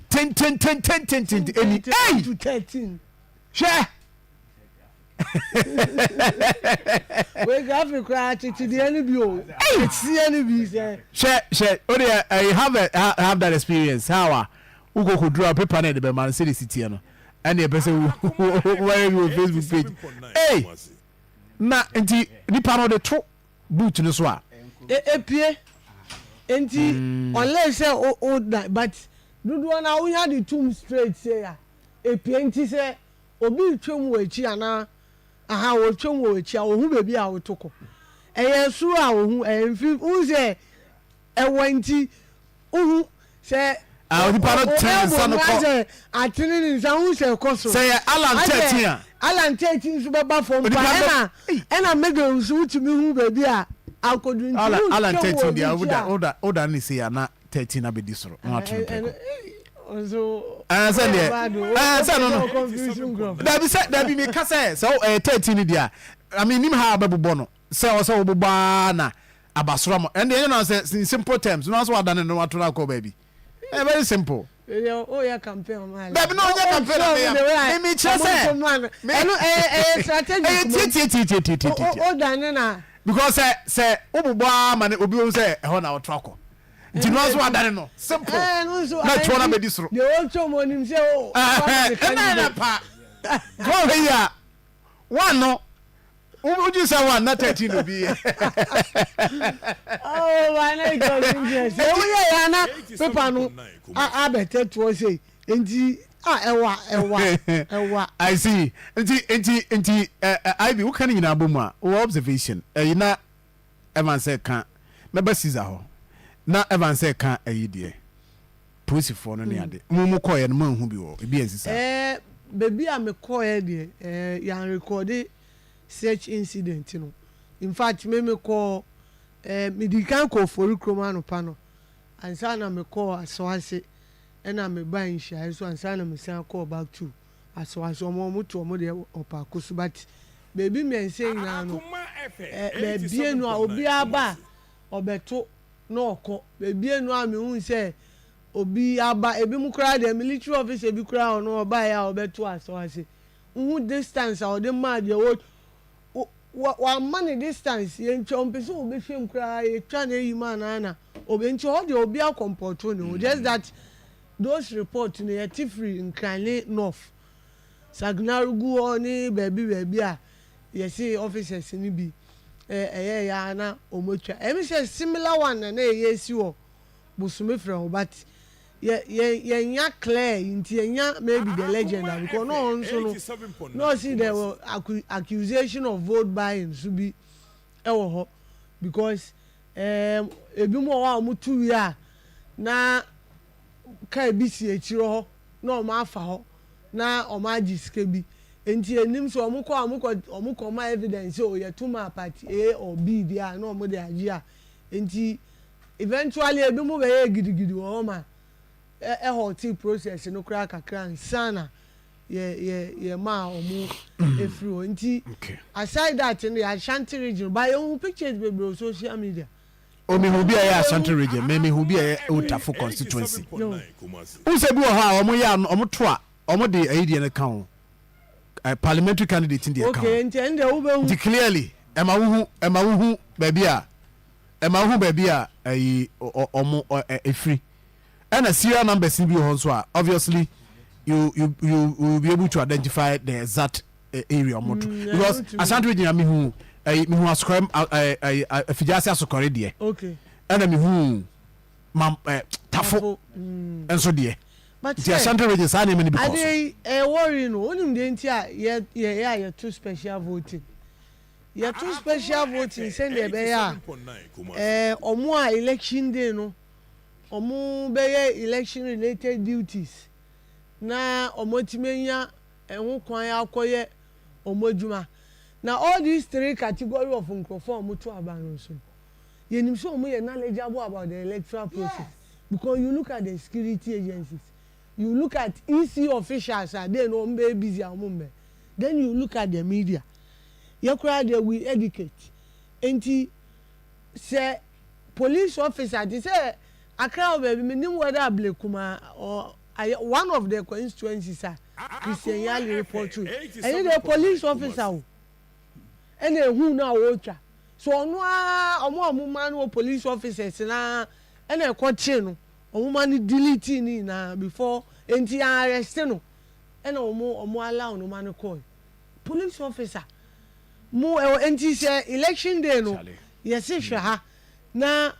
S3: tenten tenten tenten ɛni ɛyi
S5: hwɛ Wei graphic koraa kyekyedeɛ no bi o. Kyekyedeɛ no bi sɛ. Hyɛ hyɛ
S3: o deɛ I have a, have that experience how a wokɔ kɔ dura paper na ɛde bɛma no sɛde si teɛ no ɛne ɛpɛ sɛ wɔyɛ bi wɔ Facebook page ei na nti nipa no de to boot no so a.
S5: Epie nti mm. unless sɛ o o but dodoɔ na wonya de tum straight sɛ ya epie nti sɛ. Obi retwam wɔ akyi anaa? Aha, ɔretwam wɔ w'akyi a, ɔhu baabi a woreto kɔ. Ɛyɛ soro a ɔhu, ɛyɛ mfim, wohu sɛ ɛwɔ nti, wohu sɛ Ah, onipa no
S3: tene ne nsa no kɔ. Asɛ atene ne
S5: nsa, wohu sɛ ɛkɔ soro. Sɛ yɛ Alan 13 a. Alan 13 nso bɛba fam pa, ɛna ɛna Miguel nso wotumi hu baabi a akɔduru nti wotwam wɔ obi akyi a. Alan
S3: 13 deɛ, woda woda woda ne sei a, na thirteen abɛdi soro na watwe no
S5: prɛko. ɛɛ sɛ deɛ
S3: ɛɛ sɛ no no
S5: dabi sɛ dabi mi ka sɛ
S3: sɛ ɛyɛ thirteen ni deɛ ami nim ha abɛbobɔ no sɛ ɔsɛ ɔbobɔ aa na abasoro ama ɛn deɛ ɛnyɛ na sɛ in simple terms na ɔsɛ wadane no wato no akɔ baabi ɛyɛ very simple. oyɛ
S5: campaign ɔmo ayɛ. dabi na ɔnyɛ campaign na
S3: mi ya mi mi kyerɛ sɛ. ɛnu ɛyɛ ɛyɛ strategy. ɛyɛ
S5: tie tie tie tie tie tie. o dane na. Because sɛ sɛ
S3: wobobɔ ara ma no obi bɛhu sɛ ɛhɔ na woto akɔ nti no ara nso wadane no simple Ɛɛ ɛno nso na ayɛ ɛtoɔ no bi abɛdi soro. deɛ ɔntɔ mu ɔnim sɛ
S5: o aba ma me Ɛhɛn, ɛnna candidate.
S3: pa Woanhwɛ yie a one no wo- wodwen sɛ one na thirteen na obi yɛ. Oh,
S5: why not it was interesting. Sɛ Enti- woyɛ yɛ a na paper no a- abɛtɛtoɔ sei. Nti a ɛwa ɛwa ɛwa. I see nti
S3: nti nti ɛ ɛ Ivy woka ne nyinaa bɔ mu a wɔ observation ɛyi na Evans ɛka mɛba Caesar hɔ na Evans ɛka ɛyi deɛ polisifoɔ no ne ade mo mo kɔɔɛ no mo anhu bi wɔ ebi ansi saa. Ɛɛ baabi a me
S5: kɔɔɛ deɛ ɛɛ yan rekɔɔde search incident no in fact me me kɔɔ ɛɛ me di kan kɔɔ Fori kurom anɔpa no ansa na me kɔɔ Asoase. Ɛna me bae nhyiae so ansa na me san kɔɔ back to Asawase ɔmo ɔmo to ɔmo deɛ wɔ paako so but baabi mmiɛnsa nyinaa no ɛ bɛbie no a obiara ba a ɔbɛto na ɔkɔ bɛbie no a me hu sɛ obi aba ebi mo koraa deɛ military officer bi koraa ɔno ɔbaeɛ a ɔbɛto Asawase wohu distance a ɔde maa deɛ wo wa wama no distance yɛntwa ɔmpɛ sɛ ɔbɛhwɛ mu koraa yɛtwa no ayi mu anaa na ɔbɛ nti hɔ deɛ obi akɔmpɔto ne ho just that those report no yɛte firi Nkran ne North Sagnar gu hɔ ne baabi baabi a yɛse officers no bi ɛ ɛyɛɛ yɛ a na ɔmɔtwa ɛm sɛ similar one na na ɛyɛ si wɔ Bosome Frɛ ho but Yɛ yɛ yɛnnya Claire yi ntsi yɛnnya maybe the legend a because na ɔnso no na ɔse there were accu accusation of vote buying so bi wɔ hɔ because ɛɛm binom wɔ hɔ a wɔto wie a na car bi si ekyir hɔ na wɔafa hɔ na wɔagye sika bi ntsi yɛnnyim sɛ wɔkɔ a wɔkɔ wɔkɔma evidence sɛ o yɛto map at A or B bi a na wɔdze agye a ntsi Eventually ebinom bɛyɛɛ gidigidi wɔ hɔ ma ɛ haltee process no koraa kakra ansa na yɛ yɛ yɛmaa wɔn efiri hɔ. Nti aside that no yɛ Ashanti region but yɛ hu pictures bebree wɔ social media. O me hu bi a
S3: ɛyɛ Ashanti region me me hu bi a ɛyɛ Otafo constituency. N sɛ bi wɔ hɔ a wɔn yɛ ano wɔn to a wɔn de ɛyi deɛ no ka ho ɛ parliamentary candidate deɛ ka ho. Okay nti ɛn deɛ wo bɛ hu. Nti
S5: clearly ɛma wo
S3: hu ɛma wo hu baabi a. ɛma wohu baabi a ɛyi ɔmo ɛfiri ɛna serial numbers ni bi wɔ hɔ nso a obviously you you you will be able to identify the exact eh, area ɔmo to mm, because asante gyina mihu ɛyi eh, mihu asokɔrɛ ɛyi eh, afigyase asokɔrɛ deɛ ɛna mihu ma ɛɛ tafo mm. nso deɛ nti asante
S5: region saa nneɛma
S3: ni bi kɔ so. adeɛ ɛwɔ ri
S5: no onim deɛ nti a yɛ yɛ yɛ a yɛ to special voting. Yɛto special voting sɛdeɛ ɛbɛyɛ a wɔn a election day no wɔbɛyɛ election related duties na wɔatumi anya ɛho kwan akɔyɛ wɔn adwuma. Na all these three category of nkurɔfoɔ a wɔto aba no nso no, yɛnim sɛ wɔn yɛ knowledgeable about the electoral process because you look at the security agencies, you look at EC officials a dee no wɔbɛyɛ busy a wɔmmɛ, then you look at the media. yɛ koraa deɛ we educate nti sɛ police officer te sɛ Accra wɔ baabi me nim whether Ablekumaa or ayɛ one of the constituencies a Christian Yali reportu ɛnyɛ deɛ police officer o ɛna ehu no a ɔretwa so ɔno ara ɔmo a ɔmo maa no wɔ police officers no ara ɛna ɛkɔ kyee no ɔmo ma no delete ne nyinaa before nti yɛn arrest no ɛna ɔmo ɔmo allow no ma no kɔɔe. Police officer mo ɛwɔ nti sɛ election day no yɛse hwɛ ha na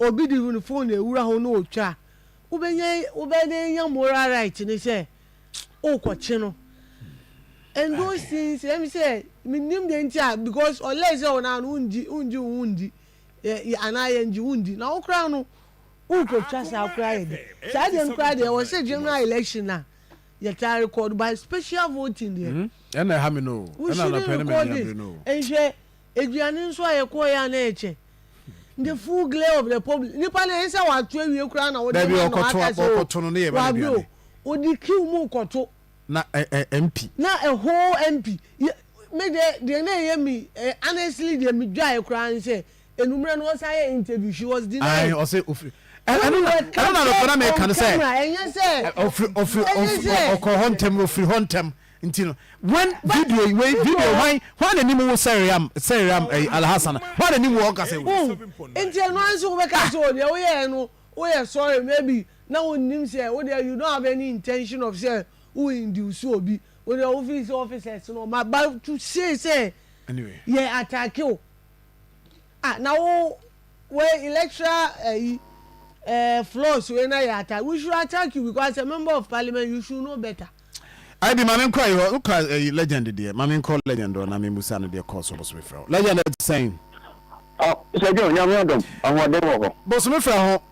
S5: obi de ne phone na ewura ho na otwa a wobɛnya wobɛnya moral right ne sɛ wokɔkye no and those things ɛm sɛ menim deɛ nti a because ɔlɛ sɛ ɔnaa no wongye wongye wo ndi anaa yɛngye wo ndi na wo koraa no wokɔtwa saa koraa yɛ de saa deɛ no koraa deɛ wɔ sɛ general election a yɛtaa record by special voting deɛ. Mm, ɛna ɛha me no o.
S3: Ɛna anɔpɛ ne mɛ diambre no o. Nhwɛ,
S5: aduane nso a yɛkɔɔ yɛ a na ɛkyɛ. The full glare of the public. Nipa na
S3: ɛnsɛ
S5: wato awie koraa na wode ma no aka sɛ o. Wabio, odi kiw mu kɔto. Na ɛ
S3: ɛ MP. Na ɛ whole
S5: MP. Me deɛ deɛ na ɛyɛ me honestly deɛ me dwae koraa ne sɛ Enumere no ɔsan yɛ interview she was denied. Ae ɔse ofiri
S3: ɛno na ɛno na nɔpɛ na meka no sɛ ofiri ofiri ɔkɔ hɔ ntɛm no ofiri hɔ ntɛm nti no when video yi wei video hwan hwan na nim wo sɛriam sɛriam ɛyi alhassan hwan na nim wo ɔka sɛ wo nti ɛno
S5: anso wobɛka sɛ o deɛ woyɛ ɛno woyɛ sorry maybe na wo nim sɛ wo deɛ you don't have any intention of sɛ wo induce obi wo deɛ wo fi sɛ officers no ma ba to say sɛ yɛ
S3: attack o.
S5: Ah na wo wei electoral ayi eh, flaws wei na yɛ ata we should attack you because as a member of parliament you should know better. Ayi de maame
S3: nkɔ ayi hɔ no ka ayi legend deɛ maame nkɔ legend hɔ na me musa no deɛ kɔɔ so bosome frɛ ho legend ɛte sɛn. Ah sɛ
S1: dwo nyame adom ahoɔden wɔ hɔ. Bosome frɛ ho.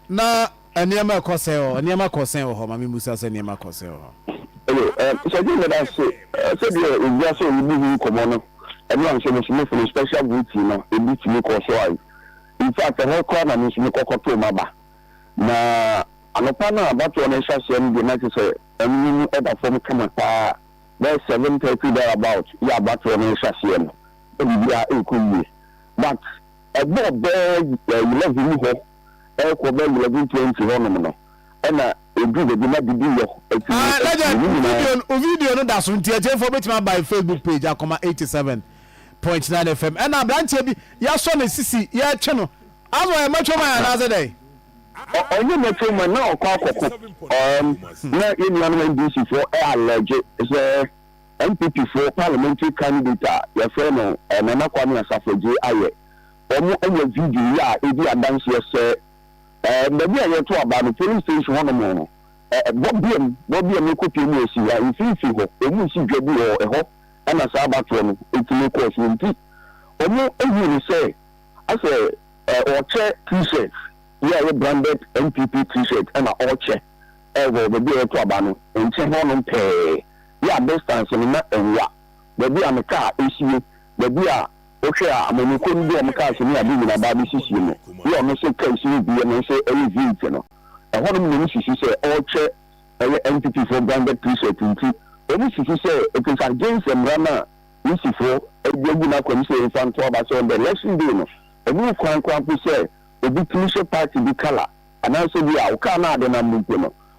S3: Na nneɛma ɛkɔ sɛn wɔ hɔ? Nneɛma kɔ sɛn wɔ hɔ? Maame mmisa sɛ nneɛma kɔ sɛn wɔ hɔ? Hello, um,
S1: Sergeant Medase, uh, sɛ deɛ owura sɛ ɔrebu ho nkɔmmɔ no, ɛno anhyɛ me nso me firi special duty no, ebi tumi kɔɔ so ae. In fact, ɛhɔ koraa na me nso mekɔ kɔtoo m'aba. Na anɔpa no a abatoɔ no rehyɛ aseɛ no deɛ na kyerɛ sɛ ɛno mu ɛda fam kama paa, bɛyɛ seven thirty there about yɛ abatoɔ no rehyɛ aseɛ no, na biribiara ɛrekɔ yie. But Ɛbɔ bɛɛ eleven mu hɔ ɛkɔ bɛɛ eleven twenty hɔ nom no ɛna edu bɛ bi na didi yɔ ɛti mu ɛti mu ne nyinaa. Wo video
S3: no da so nti atiefo wobɛtumi aba yɛ Facebook page akoma eighty seven point nine FM ɛna abranteɛ bi yɛasɔ ne sisi yɛretwe no ama ɔyɛ natural man anaasɛ dɛn? Ɔnyɛ
S1: natural man na ɔkɔ akɔko um, na yɛn nuanom NDC foɔ ɛ allege sɛ. NPP foɔ parliamentary candidate a yɛfrɛ no Nana Kwame Asafo Adjei ayɛ. Wɔn anya video yi a edi adanseɛ sɛ baabi a yɛto aba no polling station hɔ nom no bɔbeam bɔbeam ɛkɔpue mu ɛsi hɔ a mfimfini hɔ wɔn resi dwa bi wɔ ɛhɔ ɛna saa abatoɔ no ɛtumi kɔɔ so nti wɔn huu no sɛ asɛ ɔkyɛ t-shirt yi a ɛyɛ branded NPP t-shirt ɛna ɔkyɛ ɛwɔ baabi a yɛto aba no nkyɛn hɔ nom pɛɛ. Bia a distance no na ɛwua, baabi a me car ɛsie, baabi a wo hwɛ a amanyɔkuo no de wɔn cars ne ade nyina ba abɛsi sie mu, bia a ɔno se car si wobi ɛno nso ɛyɛ heat no. Ɛhɔnom na wɔn susu sɛ ɔɔkyɛ ɛyɛ entity foɔ branded t-shirt nti wɔn susu sɛ it is against mmra no a Risi foɔ ɛde agu n'akwam sɛ ɔmfa nto aba sɛ on the election day no ɛnni kwan koraa mpo sɛ obi tumi hyɛ party bi colour anaasɛ bia wo car no a adenam no mpo no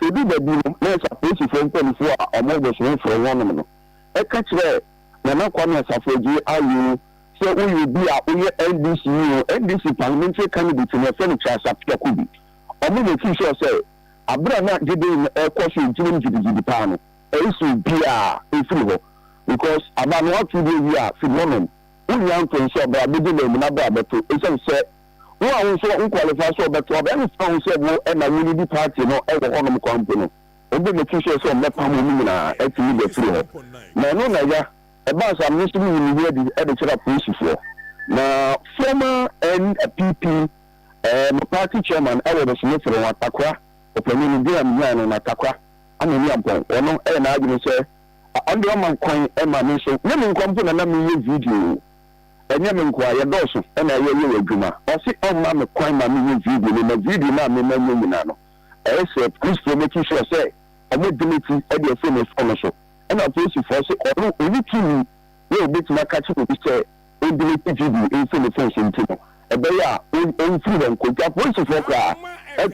S1: Eduu baabi no, nurse apolisifo mpanyimfo a wɔwɔ Bosowe frɛɛ wɔnom no ka kyerɛɛ Nana Kwame Asafo Adjei Ayew sɛ woyɛ obi a woyɛ NDC yi ho NDC parliamentary candidate na wɔfrɛ no Charles Appiah Kubi. Wɔn na ofii sɔɔ sɛ bere a na gyedie no rekɔ so gyinam gyidigyidi paa no, ɛresi obiara mfiri hɔ because aba no woato bi awie a firi hɔnom, wonnya mfomso a bra bɛdi na amu no abra bɛto esiane sɛ Wo a wo nso wo qualify sɛ ɔbɛto aba ɛne sɛ wo sɛ wo ɛna wo leadi party no wɔ hɔ nom kwa mpo no ɔbɔ mo ti sɛ sɛ ɔmɛ pam ɔmo nyinaa ɛti mo gya firi hɔ na ɛno na ya ɛbaa saa me nso me yi me ho adi ɛde kyerɛ apolisifoɔ na former NPP ɛɛ mo party chairman ɛwɔ no sɛ me fere wɔn atakora ɔpanin no dina me nyaa no na atakora ama mi ampɔn ɔno ɛyɛ n'adwene sɛ ɔnde ɔma kwan ɛma me nso ne me nkwa mpo na na me yɛ video. Ɛnyɛ me nkoaa, yɛdɔɔso na yɛyɛ adwuma. Ɔse ɔmma me kwan ma menyɛ video no, na video no a mema nyɛ nyina no, ɛyɛ sɛ Christfoɔ make sure sɛ ɔmo delete de afiri me phone no so. Ɛna Polisifoɔ se ɔno ɔnni tumi sɛ ɔbɛtumi aka akyerɛ obi sɛ ɔndelete video mfiri ne phone so nti no, ɛbɛyɛ a ɔmfiri hɔ nkɔ. Nti apolisifoɔ koraa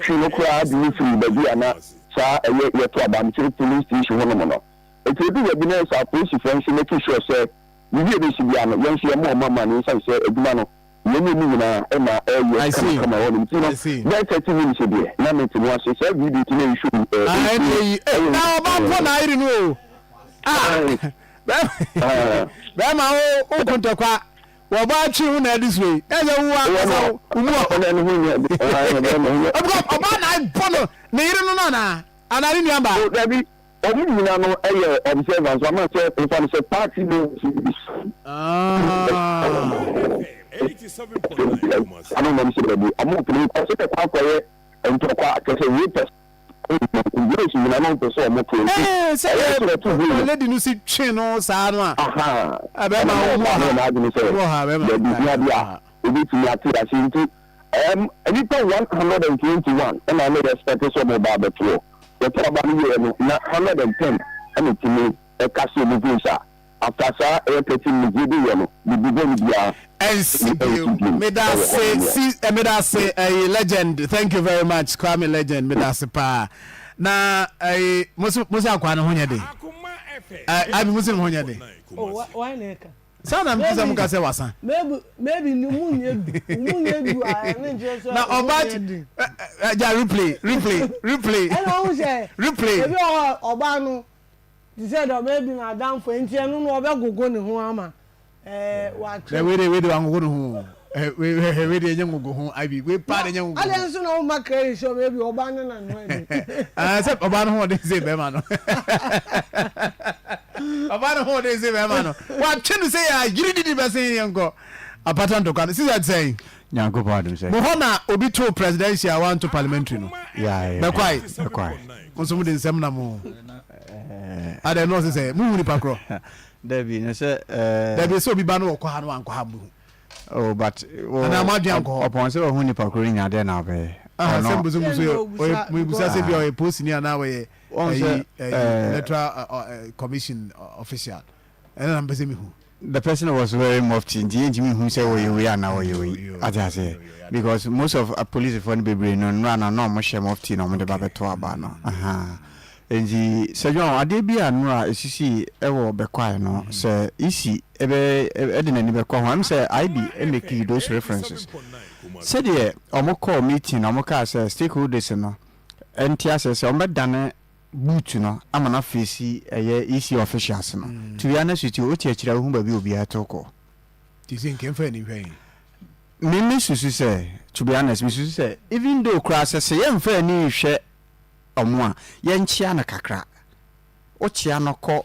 S1: twee no koraa de no firii baabi a na saa ɛyɛ yɛto Abamkyere Polling Station hɔ nom no. Nti ɛduu baabi no ɛyɛ sɛ apolisifoɔ nso make sure sɛ. Yewie bɛsi biara no, yɛn nso yɛmmoa wɔn amanneɛ ɛsiane sɛ adwuma no, yɛn ne wɔn nyinaa na ɛreyɛ kamakama wɔ hɔnom. Nti no, bɛyɛ thirty minutes deɛ, na mete mu ase. Saa video ti no yɛ show bi. Ɛɛ, nti no, ɛyɛ
S3: nti. Ɔba mpo na ayere no o. Ah, bɛrima o, o ko ntɔkwa. Wɔba akyi wo na ɛde so yi. Na ɛsɛ wo wa kasa wo mu ɔ.
S1: Ɔba
S3: na abɔ no, ne yere
S1: no no
S3: anaa? Anaa ne nuamba? Dabi. Ɔmo
S1: nyina no yɛ observer nso ama sɛ wo fa no sɛ party no nti bi sane
S4: ano nam sɛ dabi
S1: ɔmo mpene nkɔ sɛ kɛkɔ akɔ yɛ ntɔkwa kyɛ sɛ wei pɛ sɛ boys nyina no mpɛ sɛ ɔmo to nti ɛyɛ sɛ ɔto huu
S3: no lady no si twe no saa no a ahaa ɛna
S1: bɛɛma
S3: no yɛ n'adwene sɛ
S1: dabi hia
S3: bi a
S1: obetumi ate ase nti. Erm nnipa one hundred and twenty one na wɔn respect sɛ wɔn ba abɛto hɔ. Wɔtɔ aba no wieɛ no na hundred and ten na ɛtumi cast wɔn vote a after saa ɛyɛ thirty minutes yɛdi yɛ no bibi bɔne biara ɛnsi bio.
S3: Medase si medase ɛyi legend thank you very much Kwame legend medase paa na ɛyi mosi mosi akwa no ho nyɛ den. Ɛɛ
S4: abi mosi no ho nyɛ
S3: den. Oh, why na
S5: ɛka? Saa na mete sɛ mo ka
S3: sɛ wasa. Maybe maybe ni mu nyɛ du
S5: mu nyɛ du a ɛne nkyɛn sɛ. Na ɔbaa ti
S3: ɛ ɛ gya replay replay replay. Ɛna ɔmo sɛ
S5: replay. Ebi wɔ hɔ
S3: ɔbaa
S5: no te sɛ dɛ maybe na adanfo nti ɛno no ɔbɛ gogo ne ho ama ɛɛ watwe. Dɛ wei de wei de
S3: wangogo ne ho o Eh wei hwɛ wei deɛ ɛnyɛ ngogo ho ivy wei paa deɛ ɛnyɛ ngogo ho. Adɛn nso na woma credit
S5: sɛ ɔbɛyɛ bi ɔbaa no na noa ni. Ah sɛ ɔbaa no ho ɔden
S3: sɛ bɛrima no ɔbaa no ho ɔden sɛ bɛrima no watwe no sɛ yɛ yiri didi bɛsen yɛ nkɔ apata ntɔkwa no sisi sɛn. Nyankopɔn adom sɛ.
S6: Mo hɔ na obi
S3: too presidential a wanto parliamentary no bɛkwae mo nso mode nsɛm
S4: nam o
S3: adɛn nɔɔse sɛ mohu nipa korɔ. Dabi no sɛ
S6: ɛɛ. Dabi sɛ obi ba
S3: no ɔkɔ ha no wankɔ ha mohu. Oh, but
S6: oh, Ana mo adwen ankɔ
S3: hɔ. upon sɛ wahu nipa koro
S6: nya dɛ na ɔbɛyɛ Ah, ɔno. sɛ mbusu mbusu yɛ
S3: ɔyɛ mbusa sɛ bi a ɔyɛ post ni anaa ɔyɛ Wɔn sɛ, ɛyi ɛyi eh, electoral ɛ, ɔ, ɛ, commission ɔ, official ɛna na mpɛ sɛ mihu. the person was
S6: wearing mufti nti yɛntumi nhu sɛ ɔyɛ wei anaa ɔyɛ Yo, wei yo, ate aseɛ yo, yo, yɛate. because most of apolisifoɔ no bebree no nnora no na wɔhyɛ mufti na wɔde ba Okay. bɛto aba no ahaa Ntsi Sir John, adeɛ bi a no a esisii wɔ bɛkwae no, sɛ isi bɛ de n'ani bɛkɔ ho a, msɛ Aibi makii those references. Sɛdeɛ ɔmo kɔɔ meeting na ɔmo kaa sɛ stakeholders no nte aseɛ sɛ ɔmo bɛdane boot no ama no afeesi ɛyɛ EC officials no, to be honest with you, wote akyiri a wohu baabi a obiara tow kɔ. Nti sɛ nka
S3: mfa ani nhwɛ he? Me me
S6: susu sɛ, to be honest, me susu sɛ even though koraa sɛ sɛ yɛmfa ani nhwɛ Ɔmo a, yɛnkyea no kakra. Wokyea no kɔ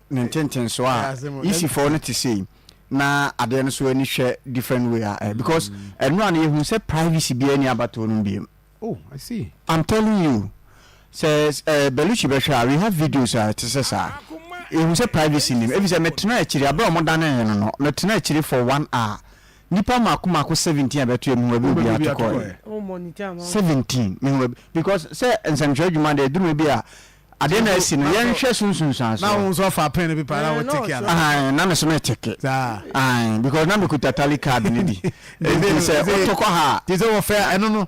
S6: ne ntentensoɔ a, isi fɔɔ no te sei, na adeɛ no nso ani hwɛ different way a ɛ, because ɛno a no yɛhunu sɛ privacy biara nni abatoɔ no mu biom. Oh, I see.
S3: I'm telling you,
S6: sɛ ɛ, Bellucci bɛhwɛ a, we have videos a ɛte sɛ saa. Yɛhunu sɛ privacy nnim, efisɛ metenaa akyiri, aberɛ a wɔdanee no no, metenaa akyiri for one hour, Nipa mako mako seventeen a bɛtoɛ mehu baabi a obiara to kɔɛ
S5: seventeen mehu baabi
S6: because sɛ nsɛmtwerɛ adwuma deɛ ɛduru baabi a adeɛ na asi no yɛnhwɛ so nsunsuansoɔ. Na wo nso ɔfa pen no bi
S3: paa na wo teke ana. Ahan na me so me
S6: teke. Ahan because na me kuta tally card no bi. Nti sɛ woto kɔ ha a. Nti sɛ wɔfɛ ɛno no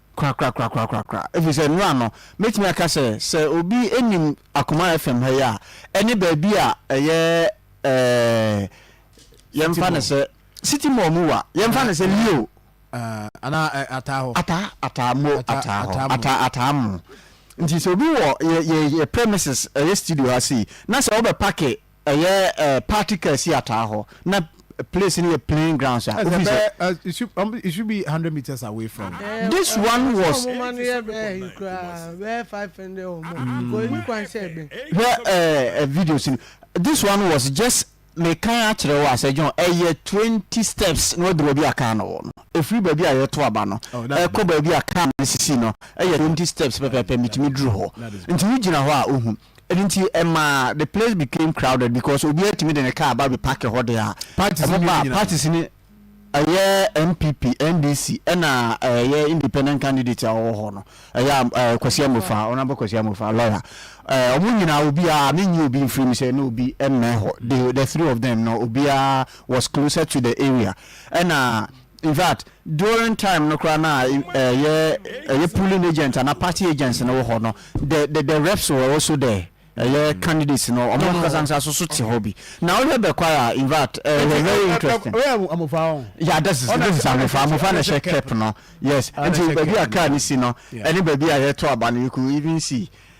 S6: Korakorakorakorakorakoraa. Ɛfiri sɛ nnora no, mɛtumi aka sɛ, sɛ obi nim Akuma FM ha yi a, ɛne baabi a ɛyɛ ɛɛɛ, yɛmfa no sɛ, City Mall mu wa, yɛmfa no sɛ Leo. Anaa
S3: ɛ, Ataa hɔ. Ataa, Ataa mo, Ataa hɔ, Ataa,
S6: Ataa mo. Nti sɛ obi wɔ yɛ, yɛ, yɛ premises, ɛyɛ studio ha sei, na sɛ wobɛpake Ɛyɛ ɛɛ party car si ataa hɔ na place no yɛ plain grounds a ofi sɛ.
S3: It should be hundred meters away from. This
S6: one
S5: was. Hwɛ ɛɛ
S6: videos no this one was just me kan akyerɛ wo a sɛ John ɛyɛ twenty steps na waduru baabi a car no wɔ no efiri baabi a yɛto aba no ɛkɔ baabi a car no sisi no ɛyɛ twenty steps pɛpɛɛpɛ mitumi duru hɔ nti wogyina hɔ a ohu Ɛno nti ɛmaa the place became crowded because obiara tumi de ne car ba bɛ parke hɔ deɛ a Parties wɔn ba mmienu nyinaa. parties no ɛyɛ NPP, NDC ɛna ɛyɛ independent candidate a ɔwɔ hɔ no ɛyɛ ɛɛ Kwasi Amofa, Honourable Kwasi Amofa, lawyer ɛɛ wɔn nyinaa obiara me nyi obi mfiri mu sɛ na obi mmɛn hɔ, they the three of them no obiara was closer to the area ɛna In fact during time no koraa na ɛyɛ ɛyɛ polling agents ana party agents no wɔ hɔ no the the the reps were also there ɛyɛ mm. candidates no ɔmo ankasa nsa so so te hɔ bi na ɔhwɛ bɛkwae a in fact ɛyɛ eh, very interesting yeah this is this is amofa amofa na ɛhyɛ cap no yes nti baabi a car ne si no ɛne baabi a yɛto aba no you could even see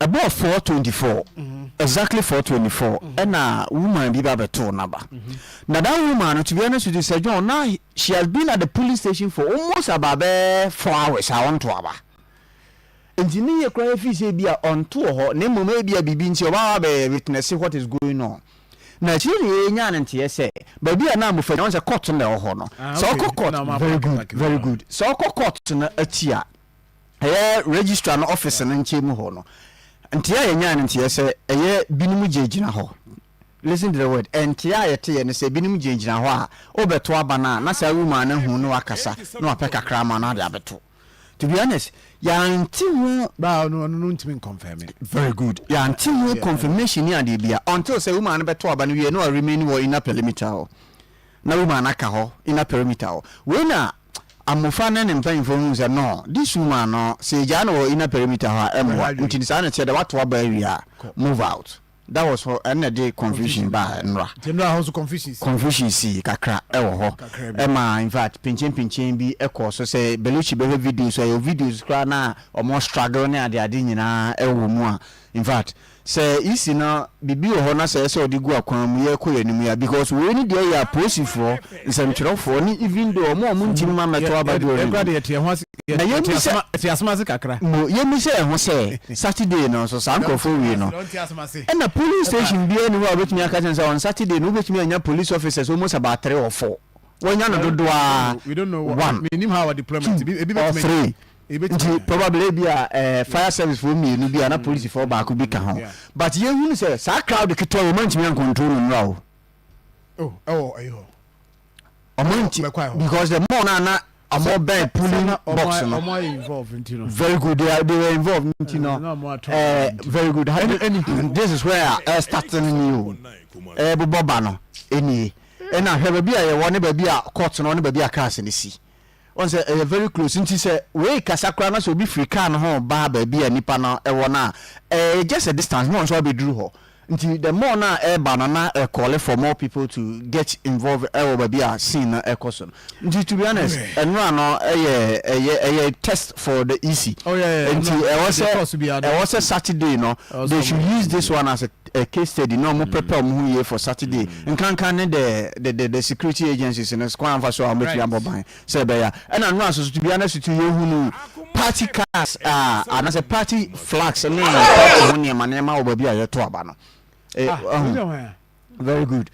S6: Ɛbɔɔ four twenty four exactly four twenty four ɛna woman bi ba bɛtoo n'aba na that woman no to be honest with you sɛ John na she has been at the polling station for almost about bɛɛ four hours a ɔnto aba nti ne yɛ koraa yɛfii sɛ ebi a ɔnto wɔ hɔ na mmom ebi a biribi nti ɔba wa bɛyɛ witness what is going on na akyire ne yɛnya ne nteɛ sɛ baabi a na amofa nyɛ wɔn sɛ court no na ɛwɔ hɔ no sɛ ɔkɔ court very good very good sɛ ɔkɔ court no akyi a ɛyɛ registrar no office no nkyɛn mu hɔ no nteɛ a yɛnyae no nteɛ sɛ ɛyɛ binom gyinagyina hɔ listen to the word ɛnteɛ a yɛteɛ no sɛ binom gyinagyina hɔ a wobɛto aba no a na saa woman no ahu na wakasa na wapɛ kakra ama no ade abɛto to be honest yɛante ho baa no ɔno no ntumi
S3: nkɔnfɛme very good yɛante
S6: ho confirmation ni adeɛ bia until sɛ woman no bɛto aba no wie na ɔremain wɔ inner perimeter hɔ na woman no aka hɔ inner perimeter hɔ wei na Amofra ne ne mpanyimfo hu sɛ no de su maa no sɛ egyaa no wɔ inner perimeter hɔ a ɛmmoa nti no saa na ɛteɛ dɛ wato aba awie a move out that was hɔ ɛno na ɛde confusion baa nnora nti nnora hɔ nso confusion sii
S3: confusion sii kakra
S6: ɛwɔ hɔ ɛma in fact pinkyen pinkyen bi ɛkɔɔ so sɛ Belushi bɛhwɛ videos a ɛwɔ videos koraa na wɔn struggle ne ade ade nyinaa ɛwɔ mu a in fact Sɛ yesi na biribi wɔ hɔ na sɛ ɛyɛ sɛ wɔde gu akwan mu yɛkɔ yɛn anim yi a because wei ne deɛ yɛ apolisifoɔ, nsɛmtwerɛfoɔ ne even though wɔn a wɔn ntini mma mmɛto aba deɛ ɔne mu. Na yɛmmisa mo
S3: yɛmmisa yɛn ho
S6: sɛ Saturday no nso saa nkorɔfoɔ wei no ɛna polling station biara nni hɔ a wɔbɛtumi aka kyerɛ no sɛ on Saturday no wobɛtumi anya police officers almost about three or four, wɔanya no dodoɔ ara one,
S3: two or three.
S6: Nti probably ebia ɛɛ fire service foɔ mmienu bi a na polisi foɔ baako bi ka ho but yɛn hunu sɛ saa crowd ketewa yi wɔn ntumi an control no mmra o. Oh ɛwɔ ɛyi hɔ. Wɔn nti because the more na na wɔn bɛn polling box no. Wɔn ayɛ involve nti no. Very
S3: good they are they were
S6: involved nti no ɛɛ very good ɛni ɛni this is where ɛɛ starting ni o ɛɛ bobɔ ba no ɛni ɛna hwɛ baabi a yɛ wɔ ne baabi a court no ne baabi a cars no si. Woahu sɛ ɛyɛ very close nti sɛ worekasa koraa na sɛ obi firi car no ho reba baabi a nnipa no wɔ no a, ɛyɛ just a distance na ɔno nso abɛduru hɔ. Nti the more no a ɛreba no na ɛ call for more people to get involved wɔ baabi a scene no rekɔ so no. Nti to be honest, nnora no yɛ ɛyɛ ɛyɛ test for the EC. Nti ɛwɔ sɛ ɛwɔ sɛ Saturday no they should use this one as a a case study na ɔmo prepare ɔmo ho yie for Saturday nkanka ne the the the the security agencies no kwan a wɔfa so a wɔbɛtumi abɔ Right. ban sɛ ɛbɛyɛ a ɛna no a soso bia na soso yɛhunu party cars a anaasɛ party flags ne party ho nneɛma nneɛma wɔ baabi a yɛto aba no Eh, Ah, wei ahu. deɛ hwan a? very good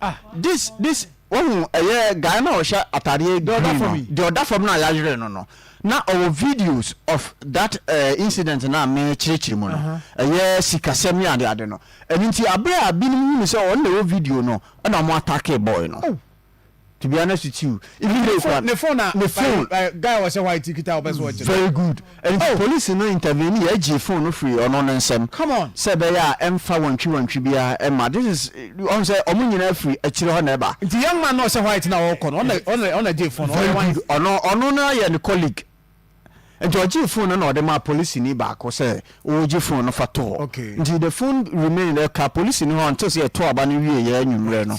S6: Ah this this wohu ɛyɛ guy na ɔhyɛ ataadeɛ green no deɛ ɔda fam no a yɛayere no no na ɔwɔ videos of that uh, incident na mekyerɛkyerɛ mu no ɛyɛ sikasɛm ne ade ade no ɛno nti aberɛ a binom hunu sɛ ɔno na ɛwɔ video no ɛna ɔmo atake boy no oh. to be honest with you even though ne phone ne phone guy ɔhyɛ white
S3: kita ɔbɛ so ɔkyerɛ very good Ɛno nti
S6: polisi no intervenee, ɛgyee phone no firii ɔno no nsam sɛ ɛbɛyɛ a
S3: ɛmfa
S6: wantwi wantwi biara mma. This is, ɔhu sɛ ɔmo nyinaa firi akyire hɔ na ɛba. Nti young man no a ɔhyɛ white
S3: no a ɔɔkɔ no, ɔna ɔna gyee phone no, ɔyɛ wan? Ɔno ɔno
S6: no yɛ ne colleague. Nti ɔgyee phone no na ɔde maa polisini baako sɛ ɔɔgye phone no fa to hɔ. Nti the phone remained, ɛkaa polisini hɔ until sɛ yɛtoo aba no wieeɛ anwummerɛ no.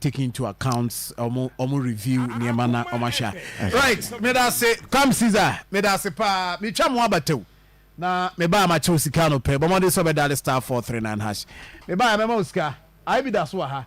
S3: take into account ɔmo ɔmo review nneɛma na ɔmo ahwɛ a right meda ase kwam caesar meda ase paa metwa mo abataw na mebaa makyɛ wo sika no pɛ bɔ mmɔden sɛ ɔbɛdale star four three nine hash mebaa mɛma wo sika ae bi da so wɔ ha